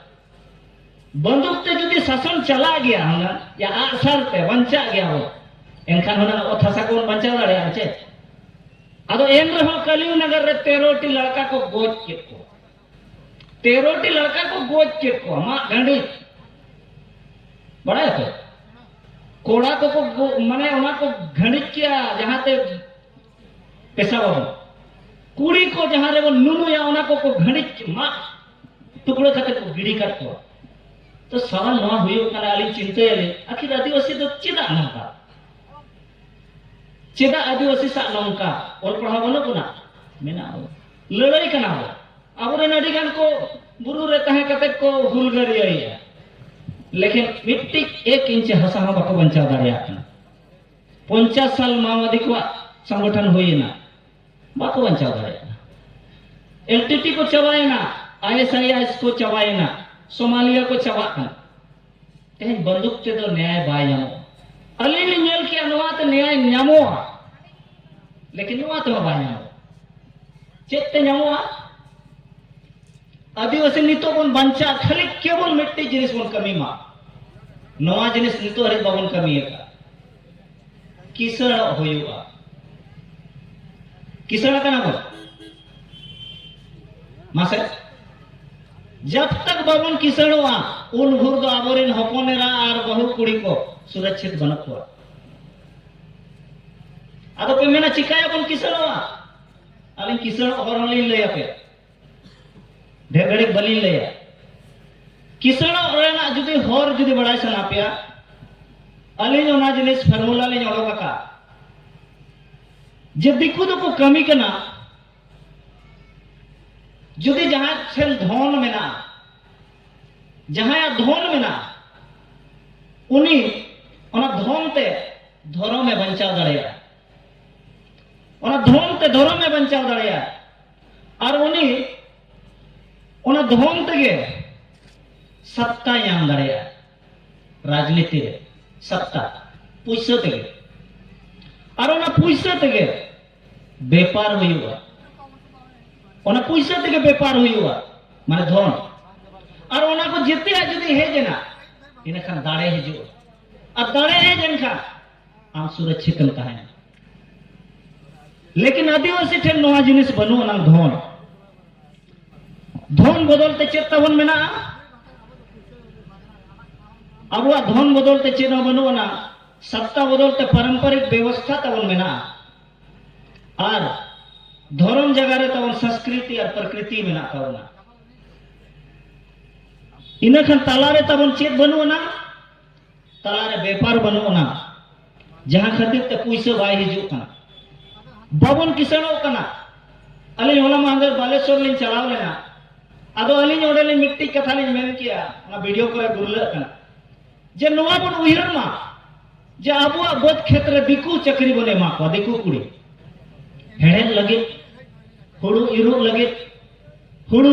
ᱵᱟᱱᱫᱩᱠ ᱛᱮ ᱡᱩᱫᱤ ᱥᱟᱥᱚᱱ ᱪᱟᱞᱟᱜ ᱜᱮᱭᱟ ᱦᱩᱱᱟᱹᱝ ᱭᱟ ᱟᱜᱥᱟᱨ ᱛᱮ ᱵᱟᱧᱪᱟᱜ ᱜᱮᱭᱟ ᱵᱚ ᱮᱱᱠᱷᱟᱱ ᱦᱩᱱᱟᱹᱝ ᱚᱛ ᱦᱟᱥᱟ ᱠᱚᱵᱚᱱ ᱵᱟᱧᱪᱟᱣ ᱫᱟᱲᱮᱭᱟᱜᱼᱟ ᱪᱮ ᱟᱫᱚ ᱮᱱ ᱨᱮᱦᱚᱸ ᱠᱟᱞᱤᱣ ᱱᱟᱜᱟᱨ ᱨᱮ ᱛᱮᱨᱚᱴᱤ ᱞᱟᱲᱠᱟ ᱠᱚ ᱜᱚᱡ ᱠᱮᱫ ᱠᱚᱣᱟ ᱛᱮᱨᱚᱴᱤ ᱞᱟᱲᱠᱟ ᱠᱚ ᱜᱚᱡ ᱠᱮᱫ ᱠᱚᱣᱟ ᱢᱟᱜ ᱰᱟᱺᱰᱤ ᱵᱟᱲᱟᱭ ᱯᱮ ᱠᱚᱲᱟ ᱠᱚᱠᱚ ᱢᱟᱱᱮ ᱚᱱᱟ ᱠᱚ ᱜᱷᱟᱹᱲᱤᱡ ᱠᱮᱜᱼᱟ ᱡᱟᱦᱟᱸᱛᱮ ᱯᱮᱥᱟ ᱵᱟᱵᱚᱱ ᱠᱩᱲᱤ ᱠᱚ ᱡᱟᱦᱟᱸ ᱨᱮᱵᱚᱱ ᱱᱩᱱᱩᱭᱟ ᱚᱱᱟ ᱠᱚᱠᱚ ᱜᱷᱟᱹᱲᱤᱡ ᱢᱟᱜ ᱴᱩᱠᱲᱟᱹ ᱠᱟᱛᱮ ᱠᱚ ᱜᱤᱰᱤ ᱠᱟᱫ ᱠᱚᱣᱟ ᱛᱚ ᱥᱟᱨᱟ ᱱᱚᱣᱟ ᱦᱩᱭᱩᱜ ᱠᱟᱱᱟ ᱟᱹᱞᱤᱧ ᱪᱤᱱᱛᱟᱹᱭᱟᱞᱤᱧ ᱟᱹᱠᱷᱤᱨ ᱟᱹᱫᱤᱵᱟᱹᱥᱤ ᱫᱚ ᱪᱮᱫᱟᱜ ᱱᱚᱝᱠᱟ ᱪᱮᱫᱟᱜ ᱟᱹᱫᱤᱵᱟᱹᱥᱤ ᱥᱟᱜ ᱱᱚᱝᱠᱟ ᱚᱞ ᱯᱟᱲᱦᱟᱣ ᱵᱟᱹᱱᱩᱜ ᱵᱚᱱᱟ ᱢᱮᱱᱟᱜ ᱵᱚᱱᱟ ᱞᱟᱹᱲᱟᱹᱭ ᱠᱟᱱᱟ ᱵᱚᱱ ᱟᱵᱚᱨᱮᱱ ᱟᱹᱰᱤ ᱜᱟᱱ ᱠᱚ ᱵᱩᱨᱩ ᱨᱮ ᱛᱟᱦᱮᱸ ᱠᱟᱛᱮ ᱠᱚ ᱦᱩᱞᱜᱟᱹᱨᱤᱭᱟᱹᱭᱮᱜᱼᱟ ᱞᱮᱠᱤᱱ ᱢᱤᱫᱴᱤᱡ ᱮᱠ ᱤᱧᱪ ᱦᱟᱥᱟ ᱦᱚᱸ ᱵᱟᱠᱚ ᱵᱟᱧᱪᱟᱣ ᱫᱟᱲᱮᱭᱟᱜ ᱠᱟᱱᱟ ᱯᱚᱧᱪᱟᱥ ᱥᱟᱞ ᱢᱟᱣᱵᱟᱫᱤ ᱠᱚᱣᱟᱜ ᱥᱚᱝᱜᱚᱴᱷᱚᱱ ᱦᱩᱭᱮᱱᱟ ᱵᱟᱠᱚ ᱵᱟᱧᱪᱟᱣ ᱫᱟᱲᱮᱭᱟᱜ ᱠᱟᱱᱟ ᱮᱞ ᱴᱤ ᱴᱤ ᱠᱚ ᱪᱟᱵᱟᱭᱮᱱᱟ I S I I S ᱠᱚ ᱪᱟᱵᱟᱭᱮᱱᱟ ᱥᱳᱢᱟᱞᱤᱭᱟ ᱠᱚ ᱪᱟᱵᱟᱜ ᱠᱟᱱᱟ ᱛᱮᱦᱮᱧ ᱵᱟᱱᱫᱩᱠ ᱛᱮᱫᱚ ᱱᱮᱭᱟᱭ ᱵᱟᱭ ᱧᱟᱢᱚᱜᱼᱟ ᱟᱹᱞᱤᱧ ᱞᱤᱧ ᱧᱮᱞ ᱠᱮᱜᱼᱟ ᱱᱚᱣᱟᱛᱮ ᱱᱮᱭᱟᱭ ᱧᱟᱢᱚᱜᱼᱟ ᱞᱮᱠᱤᱱ ᱱᱚᱣᱟ ᱛᱮᱦᱚᱸ ᱵᱟᱭ ᱧᱟᱢᱚᱜᱼᱟ ᱪᱮᱫ ᱛᱮ ᱧᱟᱢᱚᱜᱼᱟ ᱟᱹᱫᱤᱵᱟᱹᱥᱤ ᱱᱤᱛᱚᱜ ᱵᱚᱱ ᱵᱟᱧᱪᱟᱜ ᱠᱷᱟᱹᱞᱤ ᱠᱮᱵᱚᱞ ᱢᱤᱫᱴᱤᱡ ᱡᱤᱱᱤᱥ ᱵᱚᱱ ᱠᱟᱹᱢᱤ ᱢᱟ ᱱᱚᱣᱟ ᱡᱤᱱᱤᱥ ᱱᱤᱛᱚᱜ ᱦᱟᱹᱨᱤᱡ ᱵᱟᱵᱚᱱ ᱠᱟᱹᱢᱤ ᱟᱠᱟᱫ ᱠᱤᱥᱟᱹᱬᱚᱜ ᱦᱩᱭᱩᱜᱼᱟ ᱠᱤᱥᱟᱹᱬ ᱟᱠᱟᱱᱟ ᱵᱚᱱ ᱢᱟᱥᱮ ᱡᱟᱵ ᱛᱟᱠ ᱵᱟᱵᱚᱱ ᱠᱤᱥᱟᱹᱬᱚᱜᱼᱟ ᱩᱱ ᱵᱷᱳᱨ ᱫᱚ ᱟᱵᱚᱨᱮᱱ ᱦᱚᱯᱚᱱ ᱮᱨᱟ ᱟᱨ ᱵᱟᱹᱦᱩ ᱠᱩᱲᱤ ᱠᱚ ᱥᱩᱨᱚᱪᱷᱤᱛ ᱵᱟᱹᱱᱩᱜ ᱠᱚᱣᱟ ᱟᱫᱚ ᱯᱮ ᱢᱮᱱᱟ ᱪᱤᱠᱟᱹᱭᱟᱵᱚᱱ ᱠᱤᱥᱟᱹᱬᱚᱜᱼᱟ ᱟᱹᱞᱤᱧ ᱠᱤᱥᱟᱹᱬᱚᱜ ᱦᱚᱨ ᱦᱚᱸᱞᱤᱧ ᱞᱟᱹᱭ ᱟᱯᱮᱭᱟ ᱰᱷᱮᱨ ᱜᱷᱟᱹᱲᱤᱡ ᱵᱟᱹᱞᱤᱧ ᱞᱟᱹᱭᱟ ᱠᱤᱥᱟᱹᱬᱚᱜ ᱨᱮᱱᱟᱜ ᱡᱩᱫᱤ ᱦᱚᱨ ᱡᱩᱫᱤ ᱵᱟᱲᱟᱭ ᱥᱟᱱᱟ ᱯᱮᱭᱟ ᱟᱹᱞᱤᱧ ᱚᱱᱟ ᱡᱤᱱᱤᱥ ᱯᱷᱚᱨᱢᱩᱞᱟ ᱞᱤᱧ ᱚᱰᱚᱠ ᱟᱠᱟᱫ ᱡᱮ ᱫᱤᱠᱩ ᱫᱚᱠᱚ ᱠᱟᱹᱢᱤ ᱠᱟᱱᱟ ᱡᱩᱫᱤ ᱡᱟᱦᱟᱸᱭ ᱴᱷᱮᱱ ᱫᱷᱚᱱ ᱢᱮᱱᱟᱜᱼᱟ ᱡᱟᱦᱟᱸᱭᱟᱜ ᱫᱷᱚᱱ ᱢᱮᱱᱟᱜᱼᱟ ᱩᱱᱤ ᱚᱱᱟ ᱫᱷᱚᱱ ᱛᱮ ᱫᱷᱚᱨᱚᱢᱮ ᱵᱟᱧᱪᱟᱣ ᱫᱟᱲᱮᱭᱟᱜᱼᱟ ᱚᱱᱟ ᱫᱷᱚᱱ ᱛᱮ ᱫᱷᱚᱨᱚᱢᱮ ᱵᱟᱧᱪᱟᱣ ᱫᱟᱲᱮᱭᱟᱜᱼᱟ ᱟᱨ ᱩᱱᱤ ᱚᱱᱟ ᱫᱷᱚᱱ ᱛᱮᱜᱮ ᱥᱟᱛᱛᱟᱭ ᱧᱟᱢ ᱫᱟᱲᱮᱭᱟᱜᱼᱟ ᱨᱟᱡᱽᱱᱤᱛᱤ ᱨᱮ ᱥᱟᱛᱛᱟ ᱯᱩᱭᱥᱟᱹ ᱛᱮᱜᱮ ᱟᱨ ᱚᱱᱟ ᱯᱩᱭᱥᱟᱹ ᱛᱮᱜᱮ ᱵᱮᱯᱟᱨ ᱦᱩᱭᱩᱜᱼᱟ ᱚᱱᱟ ᱯᱩᱭᱥᱟᱹ ᱛᱮᱜᱮ ᱵᱮᱯᱟᱨ ᱦᱩᱭᱩᱜᱼᱟ ᱢᱟᱱᱮ ᱫᱷᱚᱱ ᱟᱨ ᱚᱱᱟ ᱠᱚ ᱡᱮᱛᱮᱭᱟᱜ ᱡᱩᱫᱤ ᱦᱮᱡ ᱮᱱᱟ ᱤᱱᱟᱹᱠᱷᱟᱱ ᱫᱟᱲᱮ ᱦᱤᱡᱩᱜᱼᱟ ᱟᱨ ᱫᱟᱲᱮ ᱦᱮᱡ ᱮᱱᱠᱷᱟᱱ ᱟᱢ ᱥᱩᱨᱚᱪᱷᱤᱛᱮᱢ ᱛᱟᱦᱮᱱᱟ ᱞᱮᱠᱤᱱ ᱟᱹᱫᱤᱵᱟᱹᱥᱤ ᱴᱷᱮᱱ ᱱᱚᱣᱟ ᱡᱤᱱᱤᱥ ᱵᱟᱹᱱᱩᱜ ᱟᱱᱟᱝ ᱫᱷᱚᱱ ᱫᱷᱚᱱ ᱵᱚᱫᱚᱞ ᱛᱮ ᱪᱮᱫ ᱛᱟᱵᱚᱱ ᱢᱮᱱᱟᱜᱼᱟ ᱟᱵᱚᱣᱟᱜ ᱫᱷᱚᱱ ᱵᱚᱫᱚᱞ ᱛᱮ ᱪᱮᱫ ᱦᱚᱸ ᱵᱟᱹᱱᱩᱜ ᱟᱱᱟ ᱥᱟᱯᱛᱟ ᱵᱚᱫᱚᱞ ᱛᱮ ᱯᱟᱨᱚᱢᱯᱚᱨᱤᱠ ᱵᱮᱵᱚᱥᱛᱷᱟ ᱛᱟᱵᱚᱱ ᱢᱮᱱᱟᱜᱼᱟ ᱟᱨ ᱫᱷᱚᱨᱚᱢ ᱡᱟᱭᱜᱟ ᱨᱮ ᱛᱟᱵᱚᱱ ᱥᱚᱝᱥᱠᱨᱤᱛᱤ ᱟᱨ ᱯᱨᱚᱠᱨᱤᱛᱤ ᱢᱮᱱᱟᱜ ᱛᱟᱵᱚᱱᱟ ᱤᱱᱟᱹ ᱠᱷᱟᱱ ᱛᱟᱞᱟᱨᱮ ᱛᱟᱵᱚᱱ ᱪᱮᱫ ᱵᱟᱹᱱᱩᱜ ᱟᱱᱟ ᱛᱟᱞᱟᱨᱮ ᱵᱮᱯᱟᱨ ᱵᱟᱹᱱᱩᱜ ᱟᱱᱟ ᱡᱟᱦᱟᱸ ᱠᱷᱟᱹᱛᱤᱨ ᱛᱮ ᱯᱩᱭᱥᱟᱹ ᱵᱟᱭ ᱦᱤᱡᱩᱜ ᱠᱟᱱᱟ ᱵᱟᱵᱚᱱ ᱠᱤᱥᱟᱹᱬᱚᱜ ᱠᱟᱱᱟ ᱟᱹᱞᱤᱧ ᱦᱚᱞᱟ ᱢᱟᱦᱫᱮᱨ ᱵᱟᱞᱮᱥᱚᱨ ᱞᱤᱧ ᱪᱟᱞᱟᱣ ᱞᱮᱱᱟ ᱟᱫᱚ ᱟᱹᱞᱤᱧ ᱚᱸᱰᱮ ᱞᱤᱧ ᱢᱤᱫᱴᱤᱡ ᱠᱟᱛᱷᱟ ᱞᱤᱧ ᱢᱮᱱ ᱠᱮᱜᱼᱟ ᱚᱱᱟ ᱵᱷᱤᱰᱤᱭᱳ ᱠᱚᱨᱮ ᱜᱩᱨᱞᱟᱹᱜ ᱠᱟᱱᱟ ᱡᱮ ᱱᱚᱣᱟ ᱵᱚᱱ ᱩᱭᱦᱟᱹᱨ ᱢᱟ ᱡᱮ ᱟᱵᱚᱣᱟᱜ ᱵᱟᱹᱫᱽ ᱠᱷᱮᱛ ᱨᱮ ᱫᱤᱠᱩ ᱪᱟᱹᱠᱨᱤ ᱵᱚᱱ ᱮᱢᱟ ᱠᱚᱣᱟ ᱫᱤᱠᱩ ᱠᱩᱲᱤ ᱦᱮᱲᱦᱮᱫ ᱞᱟᱹᱜᱤᱫ ᱦᱩᱲᱩ ᱤᱨᱚᱜ ᱞᱟᱹᱜᱤᱫ ᱦᱩᱲᱩ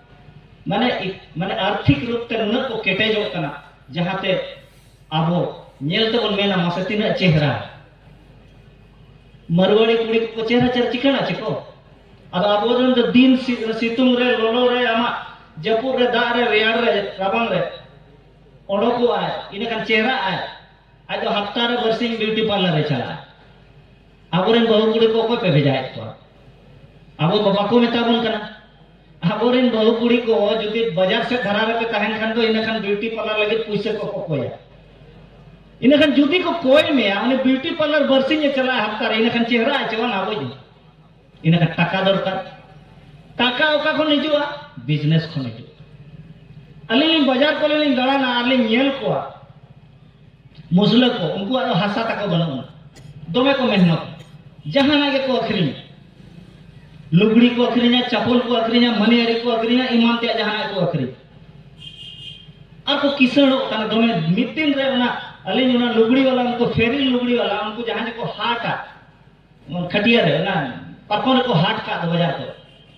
ᱢᱟᱱᱮ ᱢᱟᱱᱮ ᱟᱨᱛᱷᱤᱠ ᱨᱩᱯ ᱛᱮ ᱱᱩᱱᱟᱹᱜ ᱠᱚ ᱠᱮᱴᱮᱡᱚᱜ ᱠᱟᱱᱟ ᱡᱟᱦᱟᱸᱛᱮ ᱟᱵᱚ ᱧᱮᱞ ᱛᱮᱵᱚᱱ ᱢᱮᱱᱟ ᱢᱟᱥᱮ ᱛᱤᱱᱟᱹᱜ ᱪᱮᱦᱨᱟ ᱢᱟᱨᱣᱟᱲᱤ ᱠᱩᱲᱤ ᱠᱚᱠᱚ ᱪᱮᱦᱨᱟ ᱪᱮᱦᱨᱟ ᱪᱤᱠᱟᱹᱬ ᱟᱪᱮ ᱠᱚ ᱟᱫᱚ ᱟᱵᱚ ᱨᱮᱱ ᱫᱚ ᱫᱤᱱ ᱥᱤᱛᱩᱝ ᱨᱮ ᱞᱚᱞᱚ ᱨᱮ ᱟᱢᱟᱜ ᱡᱟᱹᱯᱩᱫ ᱨᱮ ᱫᱟᱜ ᱨᱮ ᱨᱮᱭᱟᱲ ᱨᱮ ᱨᱟᱵᱟᱝ ᱨᱮ ᱚᱰᱚᱠᱚᱜᱼᱟᱭ ᱤᱱᱟᱹᱠᱷᱟᱱ ᱪᱮᱦᱨᱟᱜᱼᱟᱭ ᱟᱡ ᱫᱚ ᱦᱟᱯᱛᱟ ᱨᱮ ᱵᱟᱨᱥᱤᱧ ᱵᱤᱭᱩᱴᱤ ᱯᱟᱨᱞᱟᱨ ᱮ ᱪᱟᱞᱟᱜᱼᱟ ᱟᱵᱚᱨᱮᱱ ᱵᱟᱹᱦᱩ ᱠᱩᱲᱤ ᱠᱚ ᱚᱠᱚᱭ ᱯᱮ ᱵᱷᱮᱡᱟᱭᱮᱫ ᱠᱚᱣᱟ ᱟᱵᱚ ᱫᱚ ᱵᱟᱠᱚ ᱢᱮᱛᱟ ᱵᱚᱱ ᱠᱟᱱᱟ ᱟᱵᱚᱨᱮᱱ ᱵᱟᱹᱦᱩ ᱠᱩᱲᱤ ᱠᱚ ᱡᱩᱫᱤ ᱵᱟᱡᱟᱨ ᱥᱮᱫ ᱫᱷᱟᱨᱟ ᱨᱮᱯᱮ ᱛᱟᱦᱮᱱ ᱠᱷᱟᱱ ᱫᱚ ᱤᱱᱟᱹ ᱠᱷᱟᱱ ᱵᱤᱭᱩᱴᱤ ᱯᱟᱨᱞᱟᱨ ᱞᱟᱹᱜᱤᱫ ᱯᱩᱭᱥᱟᱹ ᱠᱚ ᱠᱚ ᱠᱚᱭᱟ ᱤᱱᱟᱹ ᱠᱷᱟᱱ ᱡᱩᱫᱤ ᱠᱚ ᱠᱚᱭ ᱢᱮᱭᱟ ᱩᱱᱤ ᱵᱤᱭᱩᱴᱤ ᱯᱟᱨᱞᱟᱨ ᱵᱟᱨᱥᱤᱧᱮ ᱪᱟᱞᱟᱜᱼᱟ ᱦᱟᱯᱛᱟ ᱨᱮ ᱤᱱᱟᱹ ᱠᱷᱟᱱ ᱪᱮᱦᱨᱟ ᱟᱪᱮ ᱵᱟᱝ ᱟᱵᱚᱭ ᱡᱚᱢ ᱤᱱᱟᱹ ᱠᱷᱟᱱ ᱴᱟᱠᱟ ᱫᱚᱨᱠᱟᱨ ᱴᱟᱠᱟ ᱚᱠᱟ ᱠᱷᱚᱱ ᱦᱤᱡᱩᱜᱼᱟ ᱵᱤᱡᱽᱱᱮᱥ ᱠᱷᱚᱱ ᱦᱤᱡᱩᱜᱼᱟ ᱟᱹᱞᱤᱧ ᱞᱤᱧ ᱵᱟᱡᱟᱨ ᱠᱚᱨᱮ ᱞᱤᱧ ᱫᱟᱬᱟᱱᱟ ᱟᱨ ᱞᱤᱧ ᱧᱮᱞ ᱠᱚᱣᱟ ᱢᱩᱥᱞᱟᱹ ᱠᱚ ᱩᱱᱠᱩᱣᱟᱜ ᱫᱚ ᱦᱟᱥᱟ ᱛᱟᱠᱚ ᱵᱟᱹᱱᱩᱜ ᱟᱱᱟ ᱫᱚᱢᱮ ᱠᱚ ᱢᱮᱦᱱᱚᱛ ᱡᱟᱦᱟᱱᱟᱜ ᱜᱮᱠᱚ ᱟᱹᱠᱷᱨᱤᱧᱟ ᱞᱩᱜᱽᱲᱤ ᱠᱚ ᱟᱹᱠᱷᱨᱤᱧᱟ ᱪᱟᱯᱚᱞ ᱠᱚ ᱟᱹᱠᱷᱨᱤᱧᱟ ᱢᱟᱹᱱᱤᱭᱟᱹᱨᱤ ᱠᱚ ᱟᱹᱠᱷᱨᱤᱧᱟ ᱮᱢᱟᱱ ᱛᱮᱭᱟᱜ ᱡᱟᱦᱟᱱᱟᱜ ᱠᱚ ᱟᱹᱠᱷᱨᱤᱧᱟ ᱟᱨ ᱠᱚ ᱠᱤᱥᱟᱹᱬᱚᱜ ᱠᱟᱱᱟ ᱫᱚᱢᱮ ᱢᱤᱫ ᱫᱤᱱ ᱨᱮ ᱚᱱᱟ ᱟᱹᱞᱤᱧ ᱚᱱᱟ ᱞᱩᱜᱽᱲᱤ ᱵᱟᱞᱟ ᱩᱱᱠᱩ ᱯᱷᱮᱨᱤᱞ ᱞᱩᱜᱽᱲᱤ ᱵᱟᱞᱟ ᱩᱱᱠᱩ ᱡᱟᱦᱟᱸ ᱡᱮᱠᱚ ᱦᱟᱴᱟ ᱠᱷᱟᱹᱴᱤᱭᱟᱹ ᱨᱮ ᱚᱱᱟ ᱯᱟᱨᱠᱚᱢ ᱨᱮᱠᱚ ᱦᱟᱴ ᱠᱟᱜ ᱫᱚ ᱵᱟᱡᱟᱨ ᱠᱚ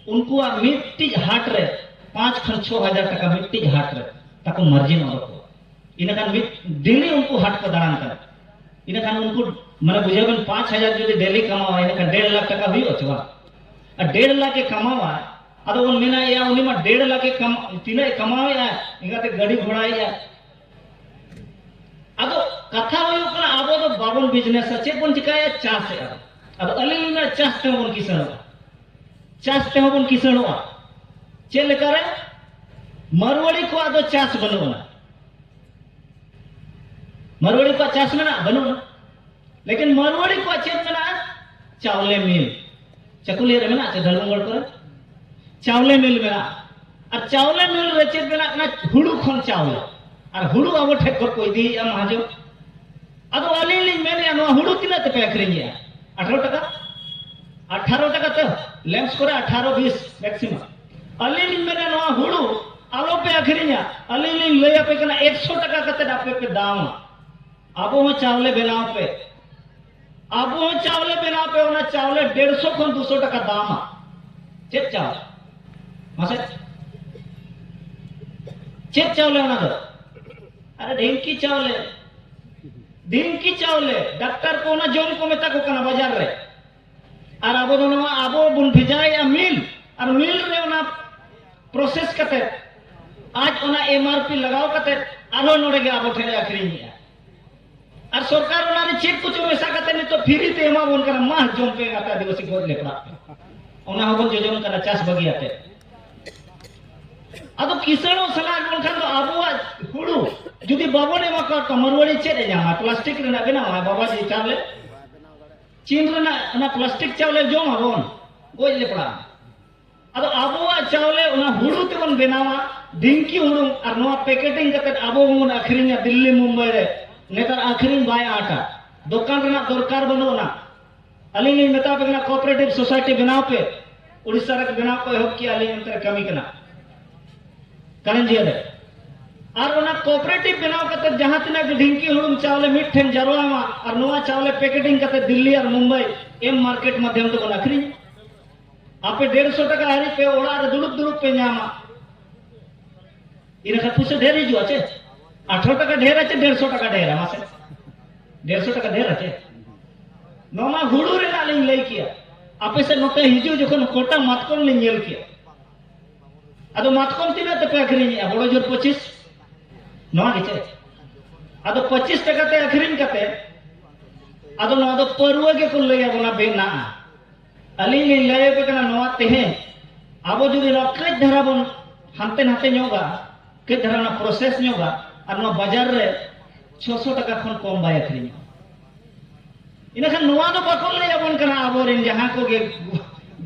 ᱩᱱᱠᱩᱣᱟᱜ ᱢᱤᱫᱴᱤᱡ ᱦᱟᱴ ᱨᱮ ᱯᱟᱸᱪ ᱠᱷᱚᱱ ᱪᱷᱚ ᱦᱟᱡᱟᱨ ᱴᱟᱠᱟ ᱢᱤᱫᱴᱤᱡ ᱦᱟᱴ ᱨᱮ ᱛᱟᱠᱚ ᱢᱟᱨᱡᱤᱱ ᱚᱰᱚᱠᱚᱜᱼᱟ ᱤᱱᱟᱹ ᱠᱷᱟᱱ ᱢᱤᱫ ᱰᱮᱞᱤ ᱩᱱᱠᱩ ᱦᱟᱴ ᱠᱚ ᱫᱟᱬᱟᱱ ᱠᱟᱱᱟ ᱤᱱᱟᱹ ᱠᱷᱟᱱ ᱩᱱᱠᱩ ᱢᱟᱱᱮ ᱵᱩᱡᱷᱟᱹᱣ ᱵᱮᱱ ᱯᱟᱸᱪ ᱦᱟᱡᱟᱨ ᱡᱩᱫᱤ ᱰᱮᱞᱤ ᱠᱟᱢᱟᱣᱟ ᱤᱱᱟᱹ ᱠᱷᱟᱱ ᱰᱮᱲ ᱞᱟᱠᱷ ᱴᱟᱠᱟ ᱦᱩᱭᱩᱜᱼᱟ ᱥᱮ ᱵᱟᱝ ᱟᱨ ᱰᱮᱲ ᱞᱟᱠᱷ ᱮ ᱠᱟᱢᱟᱣᱟ ᱟᱫᱚ ᱵᱚᱱ ᱢᱮᱱᱟ ᱮᱭᱟ ᱩᱱᱤ ᱢᱟ ᱰᱮᱲ ᱞᱟᱠᱷ ᱮ ᱠᱟᱢᱟ ᱛᱤᱱᱟᱹᱜ ᱮ ᱠᱟᱢᱟᱣᱮᱜᱼᱟ ᱤᱱᱟᱹᱛᱮ ᱜᱟᱹᱰᱤ ᱜᱷᱚᱲᱟᱭᱮᱜᱼᱟ ᱟᱫᱚ ᱠᱟᱛᱷᱟ ᱦᱩᱭᱩᱜ ᱠᱟᱱᱟ ᱟᱵᱚ ᱫᱚ ᱵᱟᱵᱚᱱ ᱵᱤᱡᱽᱱᱮᱥᱟ ᱪᱮᱫ ᱵᱚᱱ ᱪᱤᱠᱟᱭᱟ ᱪᱟᱥᱮᱜᱼᱟ ᱟᱫᱚ ᱟᱹᱞᱤᱧ ᱞᱤᱧ ᱢᱮᱱᱟ ᱪᱟᱥ ᱛᱮᱦᱚᱸ ᱵᱚᱱ ᱠᱤᱥᱟᱹᱬᱚᱜᱼᱟ ᱪᱟᱥ ᱛᱮᱦᱚᱸ ᱵᱚᱱ ᱠᱤᱥᱟᱹᱬᱚᱜᱼᱟ ᱪᱮᱫ ᱞᱮᱠᱟᱨᱮ ᱢᱟᱨᱣᱟᱲᱤ ᱠᱚᱣᱟᱜ ᱫᱚ ᱪᱟᱥ ᱵᱟᱹᱱᱩᱜ ᱟᱱᱟ ᱢᱟᱨᱣᱟᱲᱤ ᱠᱚᱣᱟᱜ ᱪᱟᱥ ᱢᱮᱱᱟᱜᱼᱟ ᱵᱟᱹᱱᱩᱜ ᱟᱱᱟ ᱞᱮᱠᱤᱱ ᱢᱟᱨᱣᱟᱲᱤ ᱠᱚᱣᱟᱜ ᱪᱮᱫ ᱢᱮᱱᱟᱜᱼᱟ ᱪᱟᱣᱞᱮ ᱢᱤᱞ ᱪᱟᱠᱩᱞᱤᱭᱟᱹ ᱨᱮ ᱢᱮᱱᱟᱜᱼᱟ ᱪᱮ ᱫᱷᱟᱲᱵᱚᱝᱜᱚᱲ ᱠᱚᱨᱮ ᱪᱟᱣᱞᱮ ᱢᱤᱞ ᱢᱮᱱᱟᱜᱼᱟ ᱟᱨ ᱪᱟᱣᱞᱮ ᱢᱤᱞ ᱨᱮ ᱪᱮᱫ ᱵᱮᱱᱟᱜ ᱠᱟᱱᱟ ᱦᱩᱲᱩ ᱠᱷᱚᱱ ᱪᱟᱣᱞᱮ ᱟᱨ ᱦᱩᱲᱩ ᱟᱵᱚ ᱴᱷᱮᱱ ᱠᱷᱚᱱ ᱠᱚ ᱤᱫᱤᱭᱮᱫᱼᱟ ᱢᱟᱦᱟᱡᱚᱱ ᱟᱫᱚ ᱟᱹᱞᱤᱧ ᱞᱤᱧ ᱢᱮᱱᱮᱜᱼᱟ ᱱᱚᱣᱟ ᱦᱩᱲᱩ ᱛᱤᱱᱟᱹᱜ ᱛᱮᱯᱮ ᱟᱹᱠᱷᱨᱤᱧᱮᱜᱼᱟ ᱟᱴᱷᱟᱨᱚ ᱴᱟᱠᱟ ᱟᱴᱷᱟᱨᱚ ᱴᱟᱠᱟ ᱛᱮ ᱞᱮᱢᱥ ᱠᱚᱨᱮ ᱟᱴᱷᱟᱨᱚ ᱵᱤᱥ ᱢᱮᱠᱥᱤᱢᱟᱢ ᱟᱹᱞᱤᱧ ᱞᱤᱧ ᱢᱮᱱᱟ ᱱᱚᱣᱟ ᱦᱩᱲᱩ ᱟᱞᱚ ᱯᱮ ᱟᱹᱠᱷᱨᱤᱧᱟ ᱟᱹᱞᱤᱧ ᱞᱤᱧ ᱞᱟᱹᱭ ᱟᱯᱮ ᱠᱟᱱᱟ ᱮᱠᱥᱚ ᱴᱟᱠᱟ ᱠᱟᱛᱮ ᱟᱯᱮ ᱯᱮ ᱫᱟᱢᱟ ᱟᱵᱚ ᱦᱚᱸ ᱪᱟᱣᱞᱮ ᱵᱮᱱᱟᱣ ᱯᱮ ᱟᱵᱚ ᱦᱚᱸ ᱪᱟᱣᱞᱮ ᱵᱮᱱᱟᱣ ᱯᱮ ᱚᱱᱟ ᱪᱟᱣᱞᱮ ᱰᱮᱲᱥᱚ ᱠᱷᱚᱱ ᱫᱩᱥᱚ ᱴᱟᱠᱟ ᱫᱟᱢᱟ ᱪᱮᱫ ᱪᱟᱣᱞᱮ ᱢᱟᱥᱮ ᱪᱮᱫ ᱪᱟᱣᱞᱮ ᱚᱱᱟ ᱫᱚ ᱟᱨᱮ ᱰᱷᱤᱝᱠᱤ ᱪᱟᱣᱞᱮ ᱰᱷᱤᱝᱠᱤ ᱪᱟᱣᱞᱮ ᱰᱟᱠᱛᱟᱨ ᱠᱚ ᱚᱱᱟ ᱡᱚᱢ ᱠᱚ ᱢᱮᱛᱟ ᱠᱚ ᱠᱟᱱᱟ ᱵᱟᱡᱟᱨ ᱨᱮ ᱟᱨ ᱟᱵᱚ ᱫᱚ ᱱᱚᱣᱟ ᱟᱵᱚ ᱵᱚᱱ ᱵᱷᱮᱡᱟᱭᱮᱫᱼᱟ ᱢᱤᱞ ᱟᱨ ᱢᱤᱞ ᱨᱮ ᱚᱱᱟ ᱯᱨᱚᱥᱮᱥ ᱠᱟᱛᱮ ᱟᱡ ᱚᱱᱟ ᱮᱢ ᱟᱨ ᱯᱤ ᱞᱟᱜᱟᱣ ᱠᱟᱛᱮ ᱟᱨᱦᱚᱸ ᱱᱚᱰᱮ ᱜᱮ ᱟᱵᱚ ᱴᱷᱮᱱ ᱟᱹᱠᱷᱨᱤᱧᱮᱫᱼᱟ ᱟᱨ ᱥᱚᱨᱠᱟᱨ ᱚᱱᱟ ᱨᱮ ᱪᱮᱫ ᱠᱚᱪᱚ ᱢᱮᱥᱟ ᱠᱟᱛᱮ ᱱᱤᱛᱚᱜ ᱯᱷᱤᱨᱤ ᱛᱮ ᱮᱢᱟ ᱵᱚᱱ ᱠᱟᱱᱟ ᱢᱟ ᱡᱚᱢ ᱯᱮ ᱟᱯᱮ ᱟᱹᱫᱤᱵᱟᱹᱥᱤ ᱜᱚᱡ ᱞᱮᱯᱲᱟᱜ ᱯᱮ ᱚᱱᱟ ᱦᱚᱸᱵᱚᱱ ᱡᱚᱡᱚᱢ ᱠᱟᱱᱟ ᱪᱟᱥ ᱵᱟᱹᱜᱤᱭᱟᱛᱮ ᱟᱫᱚ ᱠᱤᱥᱟᱹᱬᱚᱜ ᱥᱟᱞᱟᱜ ᱵᱟᱝᱠᱷᱟᱱ ᱫᱚ ᱟᱵᱚᱣᱟᱜ ᱦᱩᱲᱩ ᱡᱩᱫᱤ ᱵᱟᱵᱚᱱ ᱮᱢᱟ ᱠᱚᱣᱟ ᱛᱚ ᱢᱟᱨᱣᱟᱲᱤ ᱪᱮᱫ ᱮ ᱧᱟᱢᱟ ᱯᱞᱟᱥᱴᱤᱠ ᱨᱮᱱᱟᱜ ᱵᱮᱱᱟᱣᱟ ᱵᱟᱵᱟ ᱡᱮ ᱪᱟᱣᱞᱮ ᱪᱤᱱ ᱨᱮᱱᱟᱜ ᱚᱱᱟ ᱯᱞᱟᱥᱴᱤᱠ ᱪᱟᱣᱞᱮ ᱡᱚᱢ ᱟᱵᱚᱱ ᱜᱚᱡ ᱞᱮ ᱯᱟᱲᱟᱜᱼᱟ ᱟᱫᱚ ᱟᱵᱚᱣᱟᱜ ᱪᱟᱣᱞᱮ ᱚᱱᱟ ᱦᱩᱲᱩ ᱛᱮᱵᱚᱱ ᱵᱮᱱᱟᱣᱟ ᱰᱤᱝᱠᱤ ᱦᱩᱲᱩ ᱟᱨ ᱱᱚᱣᱟ ᱯᱮᱠᱮᱴᱤᱝ ᱠᱟᱛᱮ ᱟᱵᱚ ᱵᱚᱱ ᱟᱹᱠᱷᱨᱤᱧᱟ ᱫᱤᱞᱞᱤ ᱢᱩᱢᱵᱟᱭ ᱨᱮ ᱱᱮᱛᱟᱨ ᱟᱹᱠᱷᱨᱤᱧ ᱵᱟᱭ ᱟᱴᱟ ᱫᱚᱠᱟᱱ ᱨᱮᱱᱟᱜ ᱫᱚᱨᱠᱟᱨ ᱵᱟᱹᱱᱩᱜᱼᱟ ᱟᱹᱞᱤᱧ ᱞᱤᱧ ᱢᱮᱛᱟ ᱯᱮ ᱠᱟᱱᱟ ᱠᱚᱯᱟᱨᱮᱴᱤᱵᱷ ᱥᱳᱥᱟᱭᱴᱤ ᱵᱮᱱᱟᱣ ᱯᱮ ᱩᱲᱤᱥᱥᱟ ᱨᱮ ᱵᱮᱱᱟᱣ ᱠᱚ ᱮᱦᱚᱵ ᱠᱮᱜᱼᱟ ᱟᱹᱞᱤᱧ ᱚᱱᱛᱮ ᱨᱮ ᱠᱟᱹᱢᱤ ᱠᱟᱱᱟ ᱠᱟᱨᱮᱱᱡᱤᱭᱟ ᱨᱮ ᱟᱨ ᱚᱱᱟ ᱠᱚᱯᱟᱨᱮᱴᱤᱵᱷ ᱵᱮᱱᱟᱣ ᱠᱟᱛᱮ ᱡᱟᱦᱟᱸ ᱛᱤᱱᱟᱹᱜ ᱜᱮ ᱰᱷᱤᱝᱠᱤ ᱦᱩᱲᱩᱝ ᱪᱟᱣᱞᱮ ᱢᱤᱫ ᱴᱷᱮᱱ ᱡᱟᱨᱣᱟ ᱮᱢᱟ ᱟᱨ ᱱᱚᱣᱟ ᱪᱟᱣᱞᱮ ᱯᱮᱠᱮᱴᱤᱝ ᱠᱟᱛᱮ ᱫᱤᱞᱞᱤ ᱟᱨ ᱢᱩᱢᱵᱟᱭ ᱮᱢ ᱢᱟᱨᱠᱮᱴ ᱢᱟᱫᱷᱭᱚᱢ ᱛᱮᱵᱚᱱ ᱟᱹᱠᱷᱨᱤᱧ ᱟᱯᱮ ᱰᱮᱲᱥᱚ ᱴᱟᱠᱟ ᱦᱟᱹᱨᱤᱡ ᱯᱮ ᱚᱲᱟᱜ ᱨᱮ ᱫᱩᱲᱩᱵ ᱫᱩᱲᱩᱵ ᱯᱮ ᱧᱟᱢᱟ ᱤᱱᱟᱹ ᱠᱷᱟᱱ ᱯᱩᱭᱥᱟᱹ ᱰᱷᱮᱨ ᱦᱤᱡᱩᱜᱼᱟ ᱪᱮ ᱟᱴᱷᱨᱚ ᱴᱟᱠᱟ ᱰᱷᱮᱨ ᱟᱪᱮ ᱰᱮᱲᱥᱚ ᱴᱟᱠᱟ ᱰᱷᱮᱨ ᱢᱟᱥᱮ ᱰᱮᱲᱥᱚ ᱴᱟᱠᱟ ᱰᱷᱮᱨ ᱟᱪᱮ ᱱᱚᱣᱟ ᱢᱟ ᱦᱩᱲᱩ ᱨᱮᱱᱟᱜ ᱞᱤᱧ ᱞᱟᱹᱭ ᱠᱮᱭᱟ ᱟᱯᱮ ᱥᱮᱫ ᱱᱚᱛᱮ ᱦᱤᱡᱩᱜ ᱡᱚᱠᱷᱚᱱ ᱠᱚᱴᱟ ᱢᱟᱛᱠᱚᱢ ᱞᱤᱧ ᱧᱮᱞ ᱠᱮᱭᱟ ᱟᱫᱚ ᱢᱟᱛᱠᱚᱢ ᱛᱤᱱᱟᱹᱜ ᱛᱮᱯᱮ ᱟᱹᱠᱷᱨᱤᱧᱮᱜᱼᱟ ᱵᱚᱲᱚ ᱡᱳᱨ ᱯᱚᱸᱪᱤᱥ ᱱᱚᱣᱟ ᱜᱮ ᱪᱮ ᱟᱫᱚ ᱯᱚᱸᱪᱤᱥ ᱴᱟᱠᱟ ᱛᱮ ᱟᱹᱠᱷᱨᱤᱧ ᱠᱟᱛᱮ ᱟᱫᱚ ᱱᱚᱣᱟ ᱫᱚ ᱯᱟᱹᱨᱣᱟᱹ ᱜᱮᱠᱚ ᱞᱟᱹᱭ ᱟᱵᱚᱱᱟ ᱵᱮᱱᱟᱜᱼᱟ ᱟᱹᱞᱤᱧ ᱞᱤᱧ ᱞᱟᱹᱭ ᱟᱯᱮ ᱠᱟᱱᱟ ᱱᱚᱣᱟ ᱛᱮᱦᱮᱧ ᱟᱵᱚ ᱡᱩᱫᱤ ᱱᱚᱣᱟ ᱠᱟᱹᱡ ᱫᱷᱟᱨᱟ ᱵᱚᱱ ᱦᱟᱱᱛᱮ ᱱᱟᱛᱮ ᱧᱚᱜᱟ ᱠᱟᱹᱡ ᱫᱷᱟᱨᱟ ᱚᱱᱟ ᱯᱨᱚᱥᱮᱥ ᱧᱚᱜᱟ ᱟᱨ ᱱᱚᱣᱟ ᱵᱟᱡᱟᱨ ᱨᱮ ᱪᱷᱚᱥᱚ ᱴᱟᱠᱟ ᱠᱷᱚᱱ ᱠᱚᱢ ᱵᱟᱭ ᱟᱹᱠᱷᱨᱤᱧᱚᱜᱼᱟ ᱤᱱᱟᱹᱠᱷᱟᱱ ᱱᱚᱣᱟ ᱫᱚ ᱵᱟᱠᱚ ᱞᱟᱹᱭ ᱟᱵᱚᱱ ᱠᱟᱱᱟ ᱟᱵᱚᱨᱮᱱ ᱡᱟᱦᱟᱸ ᱠᱚᱜᱮ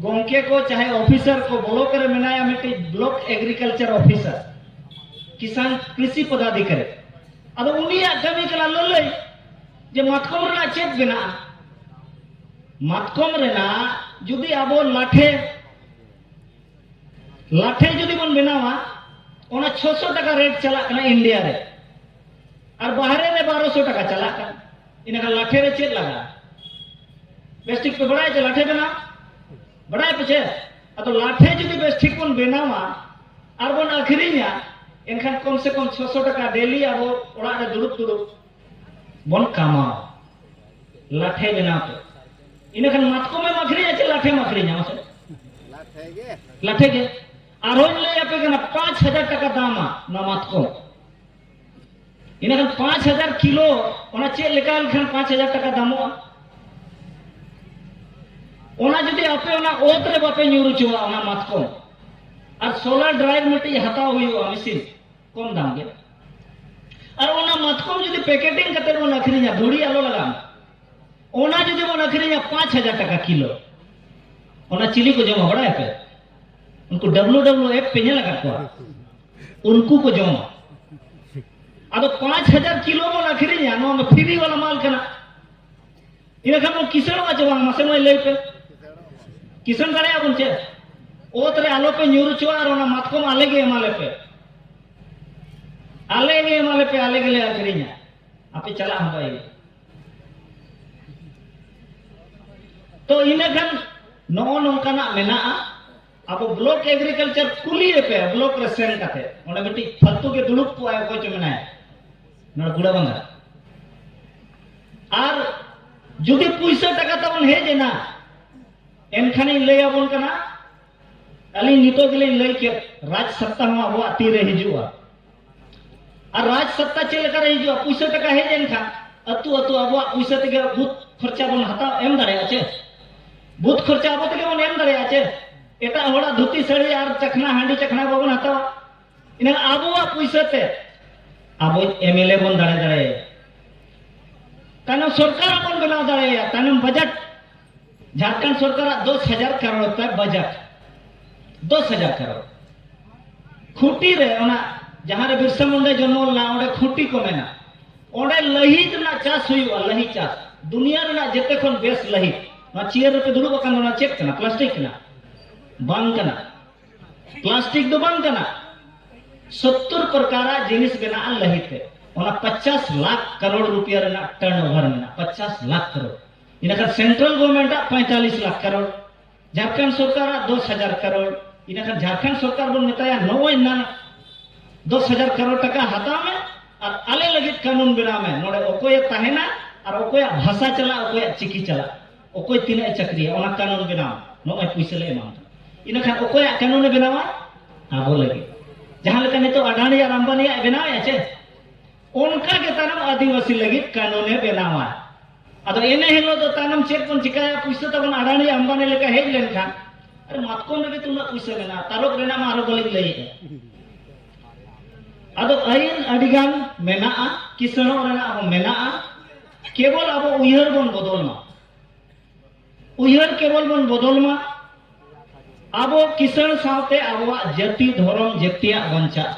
ᱜᱚᱢᱠᱮ ᱠᱚ ᱪᱟᱦᱮ ᱚᱯᱷᱤᱥᱟᱨ ᱠᱚ ᱵᱞᱚᱠ ᱨᱮ ᱢᱮᱱᱟᱭᱟ ᱢᱤᱫᱴᱤᱡ ᱵᱞᱚᱠ ᱮᱜᱽᱨᱤᱠᱟᱞᱪᱟᱨ ᱚᱯᱷᱤᱥᱟᱨ ᱠᱤᱥᱟᱱ ᱠᱨᱤᱥᱤ ᱯᱚᱫᱟधिकारी ᱟᱫᱚ ᱩᱱᱤᱭᱟᱜ ᱠᱟᱹᱢᱤ ᱠᱟᱱᱟ ᱞᱟᱹᱞᱟᱹᱭ ᱡᱮ ᱢᱟᱛᱠᱚᱢ ᱨᱮᱱᱟᱜ ᱪᱮᱫ ᱵᱮᱱᱟᱜᱼᱟ ᱢᱟᱛᱠᱚᱢ ᱨᱮᱱᱟᱜ ᱡᱩᱫᱤ ᱟᱵᱚ ᱞᱟᱴᱷᱮ ᱞᱟᱴᱷᱮ ᱡᱩᱫᱤ ᱵᱚᱱ ᱵᱮᱱᱟᱣᱟ ᱚᱱᱟ 600 ᱴᱟᱠᱟ ᱨᱮᱴ ᱪᱟᱞᱟᱜ ᱠᱟᱱᱟ ᱤᱱᱰᱤᱭᱟ ᱨᱮ ᱟᱨ ᱵᱟᱦᱨᱮ ᱨᱮ 1200 ᱴᱟᱠᱟ ᱪᱟᱞᱟᱜ ᱠᱟᱱᱟ ᱤᱱᱟᱠᱷᱟᱱ ᱞᱟᱴᱷᱮ ᱨᱮ ᱪᱮᱫ ᱞᱟᱜᱟᱜᱼᱟ ᱵᱮᱥ ᱴᱷᱤᱠ ᱯᱮ ᱵᱟᱲᱟᱭᱟ ᱡᱮ ᱞᱟᱴᱷᱮ ᱵᱮᱱᱟᱣ ᱵᱟᱲᱟᱭ ᱯᱮ ᱪᱮᱫ ᱟᱫᱚ ᱞᱟᱴᱷᱮ ᱡᱩᱫᱤ ᱵᱮᱥ ᱴᱷᱤᱠ ᱵᱚᱱ ᱵᱮᱱᱟᱣᱟ ᱟᱨ ᱵᱚᱱ ᱟᱹᱠᱷᱨᱤᱧᱟ ᱮᱱᱠᱷᱟᱱ ᱠᱚᱢ ᱥᱮ ᱠᱚᱢ 600 ᱴᱟᱠᱟ ᱰᱮᱞᱤ ᱟᱵᱚ ᱚᱲᱟᱜ ᱨᱮ ᱫᱩᱲᱩᱵ ᱫᱩᱲᱩᱵ ᱵᱚᱱ ᱠᱟᱢᱟᱣᱟ ᱞᱟᱴᱷᱮ ᱵᱮᱱᱟᱣ ᱛᱮ ᱤᱱᱟᱹᱠᱷᱟᱱ ᱢᱟᱛᱠᱚᱢ ᱮᱢ ᱟᱹᱠᱷᱨᱤᱧᱟ ᱪᱮ ᱞᱟᱴᱷᱮᱢ ᱟᱹᱠᱷᱨᱤᱧᱟ ᱢᱟᱥᱮ ᱞᱟᱴᱷᱮ ᱜᱮ ᱟᱨᱦᱚᱧ ᱞᱟᱹᱭ ᱟᱯᱮ ᱠᱟᱱᱟ ᱯᱟᱸᱪ ᱦᱟᱡᱟᱨ ᱴᱟᱠᱟ ᱫᱟᱢᱟ ᱱᱚᱣᱟ ᱢᱟᱛᱠᱚᱢ ᱤᱱᱟᱹᱠᱷᱟᱱ ᱯᱟᱸᱪ ᱦᱟᱡᱟᱨ ᱠᱤᱞᱳ ᱚᱱᱟ ᱪᱮᱫ ᱞᱮᱠᱟ ᱞᱮᱠᱷᱟᱱ ᱯᱟᱸᱪ ᱦᱟᱡᱟᱨ ᱴᱟᱠᱟ ᱫᱟᱢᱚᱜᱼᱟ ᱚᱱᱟ ᱡᱩᱫᱤ ᱟᱯᱮ ᱚᱱᱟ ᱚᱛ ᱨᱮ ᱵᱟᱯᱮ ᱧᱩᱨ ᱦᱚᱪᱚᱣᱟᱜᱼᱟ ᱚᱱᱟ ᱢᱟᱛᱠᱚᱢ ᱟᱨ ᱥᱳᱞᱟᱨ ᱰᱨᱟᱭᱤᱵᱷ ᱢᱤᱫᱴᱤᱡ ᱦᱟᱛᱟᱣ ᱦᱩᱭᱩᱜᱼᱟ ᱢᱮᱥᱤᱱ ᱠᱚᱢ ᱫᱟᱢ ᱜᱮ ᱟᱨ ᱚᱱᱟ ᱢᱟᱛᱠᱚᱢ ᱡᱩᱫᱤ ᱯᱮᱠᱮᱴᱤᱝ ᱠᱟᱛᱮ ᱵᱚᱱ ᱟᱹᱠᱷᱨᱤᱧᱟ ᱫᱷᱩᱲᱤ ᱟᱞᱚ ᱞᱟᱜᱟᱣ ᱚᱱᱟ ᱡᱩᱫᱤ ᱵᱚᱱ ᱟᱹᱠᱷᱨᱤᱧᱟ ᱯᱟᱸᱪ ᱦᱟᱡᱟᱨ ᱴᱟᱠᱟ ᱠᱤᱞᱳ ᱚᱱᱟ ᱪᱤᱞᱤ ᱠᱚ ᱡᱚᱢᱟ ᱵᱟᱲᱟᱭ ᱯᱮ ᱩᱱᱠᱩ ᱰᱟᱵᱞᱩ ᱰᱟᱵᱞᱩ ᱮᱯ ᱯᱮ ᱧᱮᱞ ᱟᱠᱟᱫ ᱠᱚᱣᱟ ᱩᱱᱠᱩ ᱠᱚ ᱡᱚᱢᱟ ᱟᱫᱚ ᱯᱟᱸᱪ ᱦᱟᱡᱟᱨ ᱠᱤᱞᱳ ᱵᱚᱱ ᱟᱹᱠᱷᱨᱤᱧᱟ ᱱᱚᱣᱟ ᱫᱚ ᱯᱷᱤᱨᱤ ᱵᱟᱞᱟ ᱢᱟᱞ ᱠᱟᱱᱟ ᱤᱱᱟᱹ ᱠᱷᱟᱱ ᱵᱚᱱ ᱠᱤᱥᱟᱹᱬᱚᱜᱼᱟ ᱪᱮ ᱵᱟᱝ ᱢᱟᱥᱮ ᱢᱟᱹᱭ ᱞᱟᱹᱭ ᱯᱮ ᱠᱤᱥᱟᱹᱬ ᱫᱟᱲᱮᱭᱟᱜᱼᱟ ᱵᱚᱱ ᱪᱮ ᱚᱛ ᱨᱮ ᱟᱞᱚ ᱯᱮ ᱧᱩᱨ ᱦᱚᱪᱚᱣᱟᱜᱼᱟ ᱟᱨ ᱚᱱᱟ ᱢᱟᱛᱠᱚᱢ ᱟᱞᱮ ᱜᱮ ᱮᱢᱟ ᱞᱮ ᱯᱮ ᱟᱞᱮ ᱜᱮ ᱮᱢᱟ ᱞᱮ ᱯᱮ ᱟᱞᱮ ᱜᱮᱞᱮ ᱟᱹᱠᱷᱨᱤᱧᱟ ᱟᱯᱮ ᱪᱟᱞᱟᱜ ᱦᱚᱸ ᱵᱟᱭ ᱦᱩᱭᱩᱜᱼᱟ ᱛᱚ ᱤᱱᱟᱹ ᱠᱷᱟᱱ ᱱᱚᱜᱼᱚ ᱱᱚᱝᱠᱟᱱᱟᱜ ᱢᱮᱱᱟᱜᱼᱟ ᱟᱵᱚ ᱵᱞᱚᱠ ᱮᱜᱽᱨᱤᱠᱟᱞᱪᱟᱨ ᱠᱩᱞᱤᱭᱮ ᱯᱮ ᱵᱞᱚᱠ ᱨᱮ ᱥᱮᱱ ᱠᱟᱛᱮ ᱚᱸᱰᱮ ᱢᱤᱫᱴᱤᱡ ᱯᱷᱟᱞᱛᱩ ᱜᱮ ᱫᱩᱲᱩᱵ ᱠᱚᱜᱼᱟᱭ ᱚᱠᱚᱭ ᱪᱚ ᱢᱮᱱᱟᱭᱟ ᱱᱚᱰᱮ ᱜᱩᱲᱟ ᱵᱟᱝᱜᱟ ᱟᱨ ᱡᱩᱫᱤ ᱯᱩᱭᱥᱟᱹ ᱴᱟᱠᱟ ᱛᱟᱵᱚᱱ ᱦᱮᱡ ᱮᱱᱟ ᱮᱱᱠᱷᱟᱱᱤᱧ ᱞᱟᱹᱭ ᱟᱵᱚᱱ ᱠᱟᱱᱟ ᱟᱹᱞᱤᱧ ᱱᱤᱛᱚᱜ ᱜᱮᱞᱤᱧ ᱞᱟᱹᱭ ᱠᱮᱫ ᱨᱟᱡᱽ ᱥᱚᱛᱛᱟ ᱦᱚᱸ ᱟᱵᱚᱣᱟᱜ ᱛᱤᱨᱮ ᱦᱤᱡᱩᱜᱼᱟ ᱟᱨ ᱨᱟᱡᱽ ᱥᱚᱛᱛᱟ ᱪᱮᱫ ᱞᱮᱠᱟᱨᱮ ᱦᱤᱡᱩᱜᱼᱟ ᱯᱩᱭᱥᱟᱹ ᱴᱟᱠᱟ ᱦᱮᱡ ᱮᱱ ᱠᱷᱟᱱ ᱟᱹᱛᱩ ᱟᱹᱛᱩ ᱟᱵᱚᱣᱟᱜ ᱯᱩᱭᱥᱟᱹ ᱛᱮᱜᱮ ᱵᱩᱛ ᱠᱷᱚᱨᱪᱟ ᱵᱚᱱ ᱦᱟᱛᱟᱣ ᱮᱢ ᱫᱟᱲᱮᱭᱟᱜᱼᱟ ᱪᱮ ᱵᱩᱛ ᱠᱷᱚᱨᱪᱟ ᱟᱵᱚ ᱛᱮᱜᱮ ᱵᱚᱱ ᱮᱢ ᱫᱟᱲᱮᱭᱟᱜᱼᱟ ᱪᱮ ᱮᱴᱟᱜ ᱦᱚᱲᱟᱜ ᱫᱷᱩᱛᱤ ᱥᱟᱹᱲᱤ ᱟᱨ ᱪᱟᱠᱷᱱᱟ ᱦᱟᱺᱰᱤ ᱪᱟᱠᱷᱱᱟ ᱵᱟᱵᱚᱱ ᱦᱟᱛᱟᱣᱟ ᱤᱱᱟᱹ ᱟᱵᱚᱣᱟᱜ ᱯᱩᱭᱥᱟᱹ ᱛᱮ ᱟᱵᱚ ᱮᱢ ᱮᱞ ᱮ ᱵᱚᱱ ᱫᱟᱲᱮ ᱫᱟᱲᱮᱭᱟᱭᱟ ᱛᱟᱭᱱᱚᱢ ᱥᱚᱨᱠᱟᱨ ᱵᱚᱱ ᱵᱮᱱᱟᱣ ᱫᱟᱲᱮᱭᱟᱭᱟ ᱛᱟᱭᱱᱚᱢ ᱵᱟᱡᱮᱴ ᱡᱷᱟᱲᱠᱷᱚᱸᱰ ᱥᱚᱨᱠᱟᱨᱟᱜ ᱫᱚᱥ ᱦᱟᱡᱟᱨ ᱠᱟᱨᱚᱲ ᱛᱟᱭ ᱵᱟᱡᱮᱴ ᱫᱚᱥ ᱦᱟᱡᱟᱨ ᱠᱟᱨᱚᱲ ᱠᱷᱩᱸᱴᱤ ᱨᱮ ᱚᱱᱟ ᱡᱟᱦᱟᱸ ᱨᱮ ᱵᱤᱨᱥᱟ ᱢᱩᱱᱰᱟ ᱡᱚᱱᱢᱚ ᱞᱮᱱᱟ ᱚᱸᱰᱮ ᱠᱷᱩᱸᱴᱤ ᱠᱚ ᱢᱮᱱᱟ ᱚᱸᱰᱮ ᱞᱟᱹᱦᱤᱛ ᱨᱮᱱᱟᱜ ᱪᱟᱥ ᱦᱩᱭᱩᱜᱼᱟ ᱞᱟᱹᱦᱤ ᱪᱟᱥ ᱫᱩᱱᱤᱭᱟᱹ ᱨᱮᱱᱟᱜ ᱡᱮᱛᱮ ᱠᱷᱚᱱ ᱵᱮᱥ ᱞᱟᱹᱦᱤᱛ ᱱᱚᱣᱟ ᱪᱮᱭᱟᱨ ᱨᱮᱯᱮ ᱫᱩᱲᱩᱵ ᱟᱠᱟᱱ ᱫᱚ ᱚᱱᱟ ᱪᱮᱫ ᱠᱟᱱᱟ ᱯᱞᱟᱥᱴᱤᱠ ᱠᱟᱱᱟ ᱵᱟᱝ ᱠᱟᱱᱟ ᱯᱞᱟᱥᱴᱤᱠ ᱫᱚ ᱵᱟᱝ ᱠᱟᱱᱟ ᱥᱚᱛᱛᱚᱨ ᱯᱨᱚᱠᱟᱨᱟᱜ ᱡᱤᱱᱤᱥ ᱵᱮᱱᱟᱜᱼᱟ ᱞᱟᱹᱦᱤᱛᱮ ᱚᱱᱟ ᱯᱚᱪᱟᱥ ᱞᱟᱠᱷ ᱠᱟᱨᱚᱲ ᱨᱩᱯᱤᱭᱟ ᱨᱮᱱᱟᱜ ᱴᱟᱨᱱ ᱳᱵᱷᱟᱨ ᱢᱮᱱᱟᱜᱼᱟ ᱯᱚᱪᱟᱥ ᱞᱟᱠᱷ ᱠᱟᱨᱚᱲ ᱤᱱᱟᱹᱠᱷᱟᱱ ᱥᱮᱱᱴᱨᱟᱞ ᱜᱚᱵᱷᱚᱨᱱᱢᱮᱱᱴᱟᱜ ᱯᱚᱸᱭᱛᱟᱞᱤᱥ ᱞᱟᱠᱷ ᱠᱟᱨᱳᱲ ᱡᱷᱟᱲᱠᱷᱚᱸᱰ ᱥᱚᱨᱠᱟᱨᱟᱜ ᱫᱚᱥ ᱦᱟᱡᱟᱨ ᱠᱟᱨᱳᱲ ᱤᱱᱟᱹᱠᱷᱟᱱ ᱡᱷᱟᱲᱠᱷᱚᱸᱰ ᱥᱚᱨᱠᱟᱨ ᱵᱚᱱ ᱢᱮᱛᱟᱭᱟ ᱱᱚᱜᱼᱚᱭ ᱱᱟᱱᱟ ᱫᱚᱥ ᱦᱟᱡᱟᱨ ᱠᱟᱨᱳᱲ ᱴᱟᱠᱟ ᱦᱟᱛᱟᱣ ᱢᱮ ᱟᱨ ᱟᱞᱮ ᱞᱟᱹᱜᱤᱫ ᱠᱟᱹᱱᱩᱱ ᱵᱮᱱᱟᱣ ᱢᱮ ᱱᱚᱰᱮ ᱚᱠᱚᱭᱮ ᱛᱟᱦᱮᱱᱟ ᱟᱨ ᱚᱠᱚᱭᱟᱜ ᱵᱷᱟᱥᱟ ᱪᱟᱞᱟᱜ ᱚᱠᱚᱭᱟᱜ ᱪᱤᱠᱤ ᱪᱟᱞᱟᱜ ᱚᱠᱚᱭ ᱛᱤᱱᱟᱹᱜ ᱮ ᱪᱟᱹᱠᱨᱤᱭᱟ ᱚᱱᱟ ᱠᱟᱹᱱᱩᱱ ᱵᱮᱱᱟᱣ ᱢᱮ ᱱᱚᱜᱼᱚᱭ ᱯᱩᱭᱥᱟᱹ ᱞᱮ ᱮᱢᱟᱢ ᱠᱟᱱᱟ ᱤᱱᱟᱹᱠᱷᱟᱱ ᱚᱠᱚᱭᱟᱜ ᱠᱟᱹᱱᱩᱱᱮ ᱵᱮᱱᱟᱣᱟ ᱟᱵᱚ ᱞᱟᱹᱜᱤᱫ ᱡᱟᱦᱟᱸ ᱞᱮᱠᱟ ᱱᱤᱛᱚᱜ ᱟᱰᱟᱱᱤ ᱟᱨ ᱟᱢᱵᱟᱱᱤᱭᱟᱜ ᱵᱮᱱᱟᱣᱮᱫᱼᱟ ᱪᱮ ᱚᱱᱠᱟ ᱜᱮ ᱛᱟᱭᱱᱚᱢ ᱟᱹᱫᱤᱵᱟᱹᱥᱤ ᱞᱟᱹᱜᱤᱫ ᱠᱟᱹᱱᱩᱱ ᱮ ᱵᱮᱱᱟᱣᱟ ᱟᱫᱚ ᱮᱱᱮ ᱦᱤᱞᱳᱜ ᱫᱚ ᱛᱟᱭᱱᱚᱢ ᱪᱮᱫ ᱵᱚᱱ ᱪᱤᱠᱟᱹᱭᱟ ᱯᱩᱭᱥᱟᱹ ᱛᱟᱵᱚᱱ ᱟᱰᱟᱱᱤ ᱟᱢᱵᱟᱱᱤ ᱞᱮᱠᱟ ᱦᱮᱡ ᱞᱮᱱᱠᱷᱟᱱ ᱟᱨ ᱢᱟᱛᱠᱚᱢ ᱨᱮᱜᱮ ᱛᱩᱱᱟᱹᱜ ᱯᱩᱭᱥᱟᱹ ᱢᱮᱱᱟᱜᱼᱟ ᱛᱟᱨᱚᱵ ᱨᱮᱱᱟᱜ ᱢᱟ ᱟᱨᱚ ᱵᱟᱹᱞᱤᱧ ᱞᱟᱹᱭᱮᱫᱼᱟ ᱟᱫᱚ ᱟᱹᱭᱤᱱ ᱟᱹᱰᱤ ᱜᱟᱱ ᱢᱮᱱᱟᱜᱼᱟ ᱠᱤᱥᱟᱹᱬᱚᱜ ᱨᱮᱱᱟᱜ ᱦᱚᱸ ᱢᱮᱱᱟᱜᱼᱟ ᱠᱮᱵᱚᱞ ᱟᱵᱚ ᱩᱭᱦᱟᱹᱨ ᱵᱚᱱ ᱵᱚᱫᱚᱞ ᱢᱟ ᱩᱭᱦᱟᱹᱨ ᱠᱮᱵᱚᱞ ᱵᱚᱱ ᱵᱚᱫᱚᱞ ᱢᱟ ᱟᱵᱚ ᱠᱤᱥᱟᱹᱬ ᱥᱟᱶᱛᱮ ᱟᱵᱚᱣᱟᱜ ᱡᱟᱹᱛᱤ ᱫᱷᱚᱨᱚᱢ ᱡᱟᱹᱛᱤᱭᱟᱜ ᱵᱟᱧᱪᱟᱜ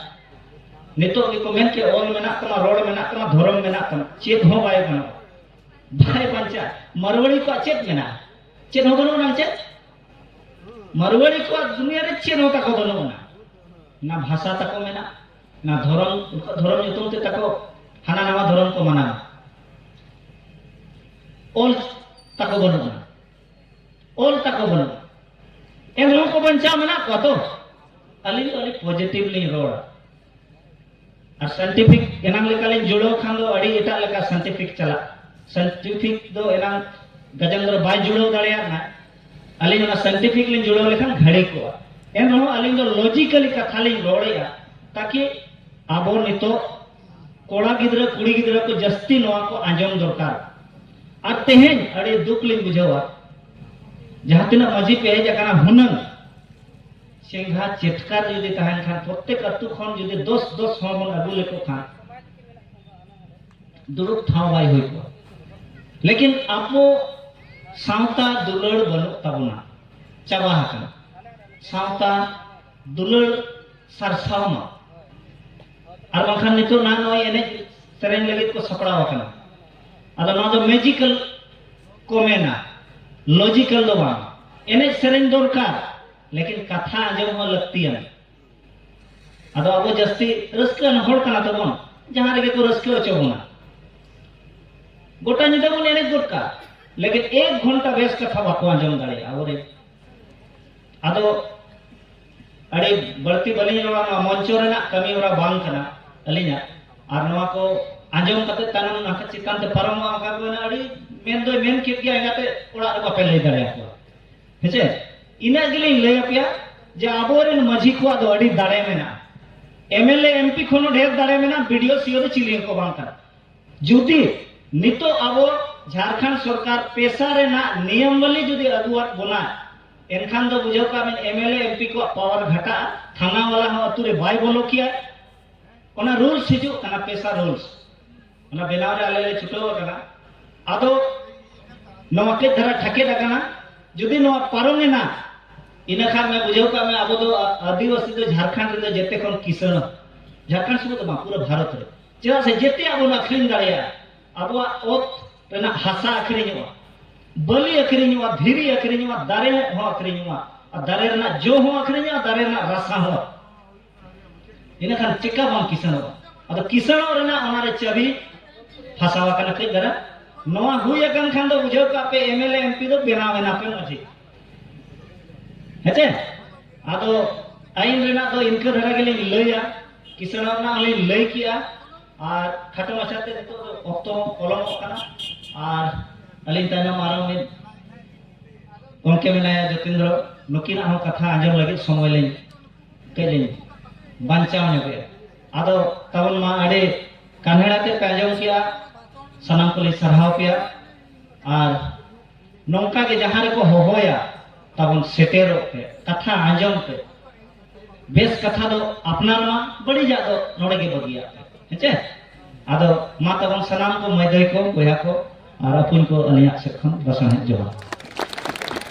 ᱱᱤᱛᱚᱜ ᱜᱮᱠᱚ ᱢᱮᱱ ᱠᱮᱫ ᱚᱞ ᱢᱮᱱᱟᱜ ᱛᱟᱢᱟ ᱨᱚᱲ ᱢᱮᱱᱟᱜ ᱛᱟᱢᱟ ᱫᱷᱚᱨᱚᱢ ᱢᱮᱱᱟᱜ ᱛᱟᱢᱟ ᱪᱮᱫ ᱦᱚᱸ ᱵᱟᱭ ᱜᱟᱱᱚᱜᱼᱟ ᱵᱟᱭ ᱵᱟᱧᱪᱟᱜ ᱢᱟᱨᱣᱟᱲᱤ ᱠᱚᱣᱟᱜ ᱪᱮᱫ ᱢᱮᱱᱟᱜᱼᱟ ᱪᱮᱫ ᱦᱚᱸ ᱵᱟᱹᱱᱩᱜ ᱟᱱᱟᱝ ᱪᱮᱫ ᱢᱟᱨᱣᱟᱲᱤ ᱠᱚᱣᱟᱜ ᱫᱩᱱᱤᱭᱟᱹ ᱨᱮ ᱪᱮᱫ ᱦᱚᱸ ᱛᱟᱠᱚ ᱵᱟᱹᱱᱩᱜ ᱟᱱᱟ ᱚᱱᱟ ᱵᱷᱟᱥᱟ ᱛᱟᱠᱚ ᱢᱮᱱᱟᱜᱼᱟ ᱱᱚᱣᱟ ᱫᱷᱚᱨᱚᱢ ᱩᱱᱠᱩᱣᱟᱜ ᱫᱷᱚᱨᱚᱢ ᱧᱩᱛᱩᱢ ᱛᱮ ᱛᱟᱠᱚ ᱦᱟᱱᱟ ᱱᱟᱣᱟ ᱫᱷᱚᱨᱚᱢ ᱠᱚ ᱢᱟᱱᱟᱣᱟ ᱚᱞ ᱛᱟᱠᱚ ᱵᱟᱹᱱᱩᱜᱼᱟ ᱚᱞ ᱛᱟᱠᱚ ᱵᱟᱹᱱᱩᱜᱼᱟ ᱮᱱ ᱨᱮᱦᱚᱸ ᱠᱚ ᱵᱟᱧᱪᱟᱣ ᱢᱮᱱᱟᱜ ᱠᱚᱣᱟ ᱛᱚ ᱟᱹᱞᱤᱧ ᱫᱚ ᱟᱹᱰᱤ ᱯᱚᱡᱮᱴᱤᱵᱷ ᱞᱤᱧ ᱨᱚᱲᱟ ᱟᱨ ᱥᱟᱭᱮᱱᱴᱤᱯᱷᱤᱠ ᱮᱱᱟᱝ ᱞᱮᱠᱟᱞᱤᱧ ᱡᱩᱲᱟᱹᱣ ᱠᱷᱟᱱ ᱫᱚ ᱟᱹᱰᱤ ᱮᱴᱟᱜ ᱞᱮᱠᱟ ᱥᱟᱭᱮᱱᱴᱤᱯᱷᱤᱠ ᱪᱟᱞᱟᱜ ᱥᱟᱭᱮᱱᱴᱤᱯᱷᱤᱠ ᱫᱚ ᱮᱱᱟᱝ ᱜᱟᱡᱮᱱᱫᱨᱚ ᱵᱟᱭ ᱡᱩᱲᱟᱹᱣ ᱫᱟᱲᱮᱭᱟᱜ ᱱᱟᱭ ᱟᱹᱞᱤᱧ ᱚᱱᱟ ᱥᱟᱭᱮᱱᱴᱤᱯᱷᱤᱠ ᱞᱤᱧ ᱡᱩᱲᱟᱹᱣ ᱞᱮᱠᱷᱟᱱ ᱜᱷᱟᱹᱲᱤ ᱠᱚᱜᱼᱟ ᱮᱱ ᱨᱮᱦᱚᱸ ᱟᱹᱞᱤᱧ ᱫᱚ ᱞᱚᱡᱤᱠᱟᱞᱤ ᱠᱟᱛᱷᱟ ᱞᱤᱧ ᱨᱚᱲᱮᱜᱼᱟ ᱛᱟᱠᱤ ᱟᱵᱚ ᱱᱤᱛᱚᱜ ᱠᱚᱲᱟ ᱜᱤᱫᱽᱨᱟᱹ ᱠᱩᱲᱤ ᱜᱤᱫᱽᱨᱟᱹ ᱠᱚ ᱡᱟᱹᱥᱛᱤ ᱱᱚᱣᱟ ᱠᱚ ᱟᱸᱡᱚᱢ ᱫᱚᱨᱠᱟᱨ ᱟᱨ ᱛᱮᱦᱮᱧ ᱟᱹᱰᱤ ᱫᱩᱠ ᱞᱤᱧ ᱵᱩᱡᱷᱟᱹᱣᱟ ᱡᱟᱦᱟᱸ ᱛᱤᱱᱟᱹᱜ ᱢᱟᱹᱡᱷᱤ ᱯᱮ ᱦᱮᱡ ᱟᱠᱟᱱᱟ ᱦᱩᱱᱟᱹᱝ ᱪᱮᱸᱜᱷᱟ ᱪᱮᱴᱠᱟᱨ ᱡᱩᱫᱤ ᱛᱟᱦᱮᱱ ᱠᱷᱟᱱ ᱯᱨᱚᱛᱮᱠ ᱟᱹᱛᱩ ᱠᱷᱚᱱ ᱡᱩᱫᱤ ᱫᱚᱥ ᱫᱚᱥ ᱦᱚᱲ ᱵᱚᱱ ᱟᱹᱜᱩ ᱞᱮᱠᱚ ᱠᱷᱟᱱ ᱫᱩᱲᱩᱵ ᱴᱷᱟᱶ ᱵᱟᱭ ᱦᱩᱭ ᱠᱚᱜᱼᱟ ᱞᱮᱠᱤᱱ ᱟᱵᱚ ᱥᱟᱶᱛᱟ ᱫᱩᱞᱟᱹᱲ ᱵᱟᱹᱱᱩᱜ ᱛᱟᱵᱚᱱᱟ ᱪᱟᱵᱟ ᱟᱠᱟᱱᱟ ᱥᱟᱶᱛᱟ ᱫᱩᱞᱟᱹᱲ ᱥᱟᱨᱥᱟᱣ ᱢᱟ ᱟᱨ ᱵᱟᱝᱠᱷᱟᱱ ᱱᱤᱛᱚᱜ ᱱᱟ ᱱᱚᱜᱼᱚᱭ ᱮᱱᱮᱡ ᱥᱮᱨᱮᱧ ᱞᱟᱹᱜᱤᱫ ᱠᱚ ᱥᱟᱯᱲᱟᱣ ᱟᱠᱟᱱᱟ ᱟᱫᱚ ᱱᱚᱣᱟ ᱫᱚ ᱢᱮᱡᱤᱠᱟᱞ ᱠᱚ ᱢᱮᱱᱟ ᱞᱚᱡᱤᱠᱟᱞ ᱫᱚ ᱵᱟᱝ ᱮᱱᱮᱡ ᱥᱮᱨᱮᱧ ᱫᱚᱨᱠᱟᱨ ᱞᱮᱠᱤᱱ ᱠᱟᱛᱷᱟ ᱟᱸᱡᱚᱢ ᱦᱚᱸ ᱞᱟᱹᱠᱛᱤᱭᱟᱱᱟ ᱟᱫᱚ ᱟᱵᱚ ᱡᱟᱹᱥᱛᱤ ᱨᱟᱹᱥᱠᱟᱹ ᱟᱱ ᱦᱚᱲ ᱠᱟᱱᱟ ᱛᱟᱵᱚᱱ ᱡᱟᱦᱟᱸ ᱨᱮᱜᱮ ᱠᱚ ᱨᱟᱹᱥᱠᱟᱹ ᱦᱚᱪᱚ ᱵᱚᱱᱟ ᱜᱚᱴᱟ ᱧᱤᱫᱟᱹ ᱵᱚᱱ ᱮᱱᱮᱡ ᱜᱚᱫ ᱠᱟᱜᱼᱟ ᱞᱮᱠᱤᱱ ᱮᱠ ᱜᱷᱚᱱᱴᱟ ᱵᱮᱥ ᱠᱟᱛᱷᱟ ᱵᱟᱠᱚ ᱟᱸᱡᱚᱢ ᱫᱟᱲᱮᱭᱟᱜᱼᱟ ᱟᱵᱚᱨᱮᱱ ᱟᱫᱚ ᱟᱹᱰᱤ ᱵᱟᱹᱲᱛᱤ ᱵᱟᱹᱞᱤᱧ ᱨᱚᱲᱟ ᱱᱚᱣᱟ ᱢᱚᱧᱪᱚ ᱨᱮᱱᱟᱜ ᱠᱟᱹᱢᱤ ᱦᱚᱨᱟ ᱵᱟᱝ ᱠᱟᱱᱟ ᱟᱹᱞᱤᱧᱟᱜ ᱟᱨ ᱱᱚᱣᱟ ᱠᱚ ᱟᱸᱡᱚᱢ ᱠᱟᱛᱮ ᱛᱟᱭᱱᱚᱢ ᱱᱟᱠᱟ ᱪᱮᱛᱟᱱ ᱛᱮ ᱯᱟᱨᱚᱢᱚᱜᱼᱟ ᱚᱱᱠᱟ ᱠᱚ ᱢᱮᱱᱟ ᱟᱹᱰᱤ ᱢᱮᱱ ᱫᱚᱭ ᱢᱮᱱ ᱠᱮᱫ ᱜᱮᱭᱟ ᱮᱸᱜᱟᱛᱮ ᱚᱲᱟᱜ ᱨᱮ ᱵᱟᱯᱮ ᱞᱟᱹᱭ ᱫᱟᱲᱮᱭᱟᱠᱚᱣᱟ ᱦᱮᱸᱪᱮ ᱤᱱᱟᱹᱜ ᱜᱮᱞᱤᱧ ᱞᱟᱹᱭ ᱟᱯᱮᱭᱟ ᱡᱮ ᱟᱵᱚᱨᱮᱱ ᱢᱟᱹᱡᱷᱤ ᱠᱚᱣᱟᱜ ᱫᱚ ᱟᱹᱰᱤ ᱫᱟᱲᱮ ᱢᱮᱱᱟᱜᱼᱟ ᱮᱢᱮᱞᱮ ᱮᱢᱯᱤ ᱠᱷᱚᱱ ᱦᱚᱸ ᱰᱷᱮᱨ ᱫᱟᱲᱮ ᱢᱮᱱᱟᱜᱼᱟ ᱵᱤᱰᱤᱳ ᱥᱤᱳ ᱫᱚ ᱪᱤᱞᱤ ᱦᱚᱸᱠᱚ ᱵᱟᱝ ᱠᱟᱱᱟ ᱡᱩᱫᱤ ᱱᱤᱛᱚᱜ ᱟᱵᱚ ᱡᱷᱟᱲᱠᱷᱚᱸᱰ ᱥᱚᱨᱠᱟᱨ ᱯᱮᱥᱟ ᱨᱮᱱᱟᱜ ᱱᱤᱭᱚᱢᱵᱟᱞᱤ ᱡᱩᱫᱤ ᱟᱹᱜᱩᱣᱟᱫ ᱵᱚᱱᱟᱭ ᱮᱱᱠᱷᱟᱱ ᱫᱚ ᱵᱩᱡᱷᱟᱹᱣ ᱠᱟᱜ ᱵᱮᱱ ᱮᱢᱮᱞᱮ ᱮᱢᱯᱤ ᱠᱚᱣᱟᱜ ᱯᱟᱣᱟᱨ ᱜᱷᱟᱴᱟᱜᱼᱟ ᱛᱷᱟᱱᱟ ᱵᱟᱞᱟ ᱦᱚᱸ ᱟᱹᱛᱩ ᱨᱮ ᱵᱟᱭ ᱵᱚᱞᱚ ᱠᱮᱭᱟᱭ ᱚᱱᱟ ᱨᱩᱞᱥ ᱦᱤᱡᱩᱜ ᱠᱟᱱᱟ ᱯᱮᱥᱟ ᱨᱩᱞᱥ ᱚᱱᱟ ᱵᱮᱱᱟᱣ ᱨᱮ ᱟᱞᱮ ᱞᱮ ᱪᱷᱩᱴᱟᱹᱣ ᱟᱠᱟᱱᱟ ᱟᱫᱚ ᱱᱚᱣᱟ ᱠᱟᱹᱡ ᱫᱷᱟᱨᱟ ᱴᱷᱟᱠᱮᱫ ᱟᱠᱟᱱᱟ ᱡᱩᱫᱤ ᱱᱚᱣᱟ ᱯᱟᱨᱚᱢᱮᱱᱟ ᱤᱱᱟᱹ ᱠᱷᱟᱱ ᱢᱮ ᱵᱩᱡᱷᱟᱹᱣ ᱠᱟᱜ ᱢᱮ ᱟᱵᱚ ᱫᱚ ᱟᱹᱫᱤᱵᱟᱹᱥᱤ ᱫᱚ ᱡᱷᱟᱲᱠᱷᱚᱸᱰ ᱨᱮᱫᱚ ᱡᱮᱛᱮ ᱠᱷᱚᱱ ᱠᱤᱥᱟᱹᱬ ᱡᱷᱟᱲᱠᱷᱚᱸᱰ ᱥᱩᱢᱩᱝ ᱫᱚ ᱵᱟᱝ ᱯᱩᱨᱟᱹ ᱵᱷᱟᱨᱚᱛ ᱨᱮ ᱪᱮᱫᱟᱜ ᱥᱮ ᱡᱮᱛᱮᱭᱟᱜ ᱵᱚᱱ ᱟᱹᱠᱷᱨᱤᱧ ᱫᱟᱲᱮᱭᱟᱜᱼᱟ ᱟᱵᱚᱣᱟᱜ ᱚᱛ ᱨᱮᱱᱟᱜ ᱦᱟᱥᱟ ᱟᱹᱠᱷᱨᱤᱧᱚᱜᱼᱟ ᱵᱟᱹᱞᱤ ᱟᱹᱠᱷᱨᱤᱧᱚᱜᱼᱟ ᱫᱷᱤᱨᱤ ᱟᱹᱠᱷᱨᱤᱧᱚᱜᱼᱟ ᱫᱟᱨᱮ ᱦᱚᱸ ᱟᱹᱠᱷᱨᱤᱧᱚᱜᱼᱟ ᱟᱨ ᱫᱟᱨᱮ ᱨᱮᱱᱟᱜ ᱡᱚ ᱦᱚᱸ ᱟᱹᱠᱷᱨᱤᱧᱚᱜᱼᱟ ᱫᱟᱨᱮ ᱨᱮᱱᱟᱜ ᱨᱟᱥᱟ ᱦᱚᱸ ᱤᱱᱟᱹ ᱠᱷᱟᱱ ᱪᱮᱠᱟ ᱵᱟᱢ ᱠᱤᱥᱟᱹᱬᱚᱜᱼᱟ ᱟᱫᱚ ᱠᱤᱥᱟᱹᱬᱚᱜ ᱨᱮᱱᱟᱜ ᱚᱱᱟ ᱨᱮ ᱪᱟᱹᱵᱤ ᱯᱷᱟᱥᱟᱣ ᱟᱠᱟᱱᱟ ᱠᱟᱹᱡ ᱫᱷᱟᱨᱟ ᱱᱚᱣᱟ ᱦᱩᱭ ᱟᱠᱟᱱ ᱠᱷᱟᱱ ᱫᱚ ᱵᱩᱡᱷᱟᱹᱣ ᱠᱟᱜ ᱯᱮ M L A M P ᱫᱚ ᱵᱮᱱᱟᱣ ᱮᱱᱟ ᱯᱮ ᱢᱟᱹᱡᱷᱤ ᱦᱮᱸᱪᱮ ᱟᱫᱚ ᱟᱹᱭᱤᱱ ᱨᱮᱱᱟᱜ ᱫᱚ ᱤᱱᱠᱟᱹ ᱫᱷᱟᱨᱟ ᱜᱮᱞᱤᱧ ᱞᱟᱹᱭᱟ ᱠᱤᱥᱟᱹᱬᱚᱜ ᱨᱮᱱᱟᱜ ᱦᱚᱸᱞᱤᱧ ᱞᱟᱹᱭ ᱠᱮᱜᱼᱟ ᱟᱨ ᱠᱷᱟᱴᱚ ᱢᱟᱪᱷᱟᱛᱮ ᱱᱤᱛᱚᱜ ᱫᱚ ᱚᱠᱛᱚ ᱦᱚᱸ ᱯᱚᱞᱚᱢᱚᱜ ᱠᱟᱱᱟ ᱟᱨ ᱟᱹᱞᱤᱧ ᱛᱟᱭᱱᱚᱢ ᱟᱨᱦᱚᱸ ᱢᱤᱫ ᱜᱚᱢᱠᱮ ᱢᱮᱱᱟᱭᱟ ᱡᱚᱛᱤᱱᱫᱨᱚ ᱱᱩᱠᱤᱱᱟᱜ ᱦᱚᱸ ᱠᱟᱛᱷᱟ ᱟᱸᱡᱚᱢ ᱞᱟᱹᱜᱤᱫ ᱥᱚᱢᱚᱭ ᱞᱤᱧ ᱠᱟᱹᱡ ᱞᱤᱧ ᱵᱟᱧᱪᱟᱣ ᱧᱚᱜᱮᱜᱼᱟ ᱟᱫᱚ ᱛᱟᱵᱚᱱ ᱢᱟ ᱟᱹᱰᱤ ᱠᱟᱱᱦᱮᱲ ᱟᱛᱮᱫ ᱯᱮ ᱟᱸᱡᱚᱢ ᱠᱮᱜᱼᱟ ᱥᱟᱱᱟᱢ ᱠᱚᱞᱤᱧ ᱥᱟᱨᱦᱟᱣ ᱯᱮᱭᱟ ᱟᱨ ᱱᱚᱝᱠᱟ ᱜᱮ ᱡᱟᱦᱟᱸ ᱨᱮᱠᱚ ᱦᱚᱦᱚᱭᱟ ᱛᱟᱵᱚᱱ ᱥᱮᱴᱮᱨᱚᱜ ᱯᱮ ᱠᱟᱛᱷᱟ ᱟᱸᱡᱚᱢ ᱯᱮ ᱵᱮᱥ ᱠᱟᱛᱷᱟ ᱫᱚ ᱟᱯᱱᱟᱨ ᱢᱟ ᱵᱟᱹᱲᱤᱡᱟᱜ ᱫᱚ ᱱᱚᱰᱮ ᱜᱮ ᱵᱟᱹᱜᱤᱭᱟᱜ ᱯᱮ ᱦᱮᱸᱪᱮ ᱟᱫᱚ ᱢᱟ ᱛᱟᱵᱚᱱ ᱥᱟᱱᱟᱢ ᱠᱚ ᱢᱟᱹᱭ ᱫᱟᱹᱭ ᱠᱚ ᱵᱚᱭᱦᱟ ᱠᱚ ᱟᱨ ᱟᱯᱩᱧ ᱠᱚ ᱟᱹᱞᱤᱧᱟᱜ ᱥᱮᱫ ᱠᱷᱚᱱ ᱞᱟᱥᱟᱬᱦᱮᱫ ᱡᱚᱦᱟᱨ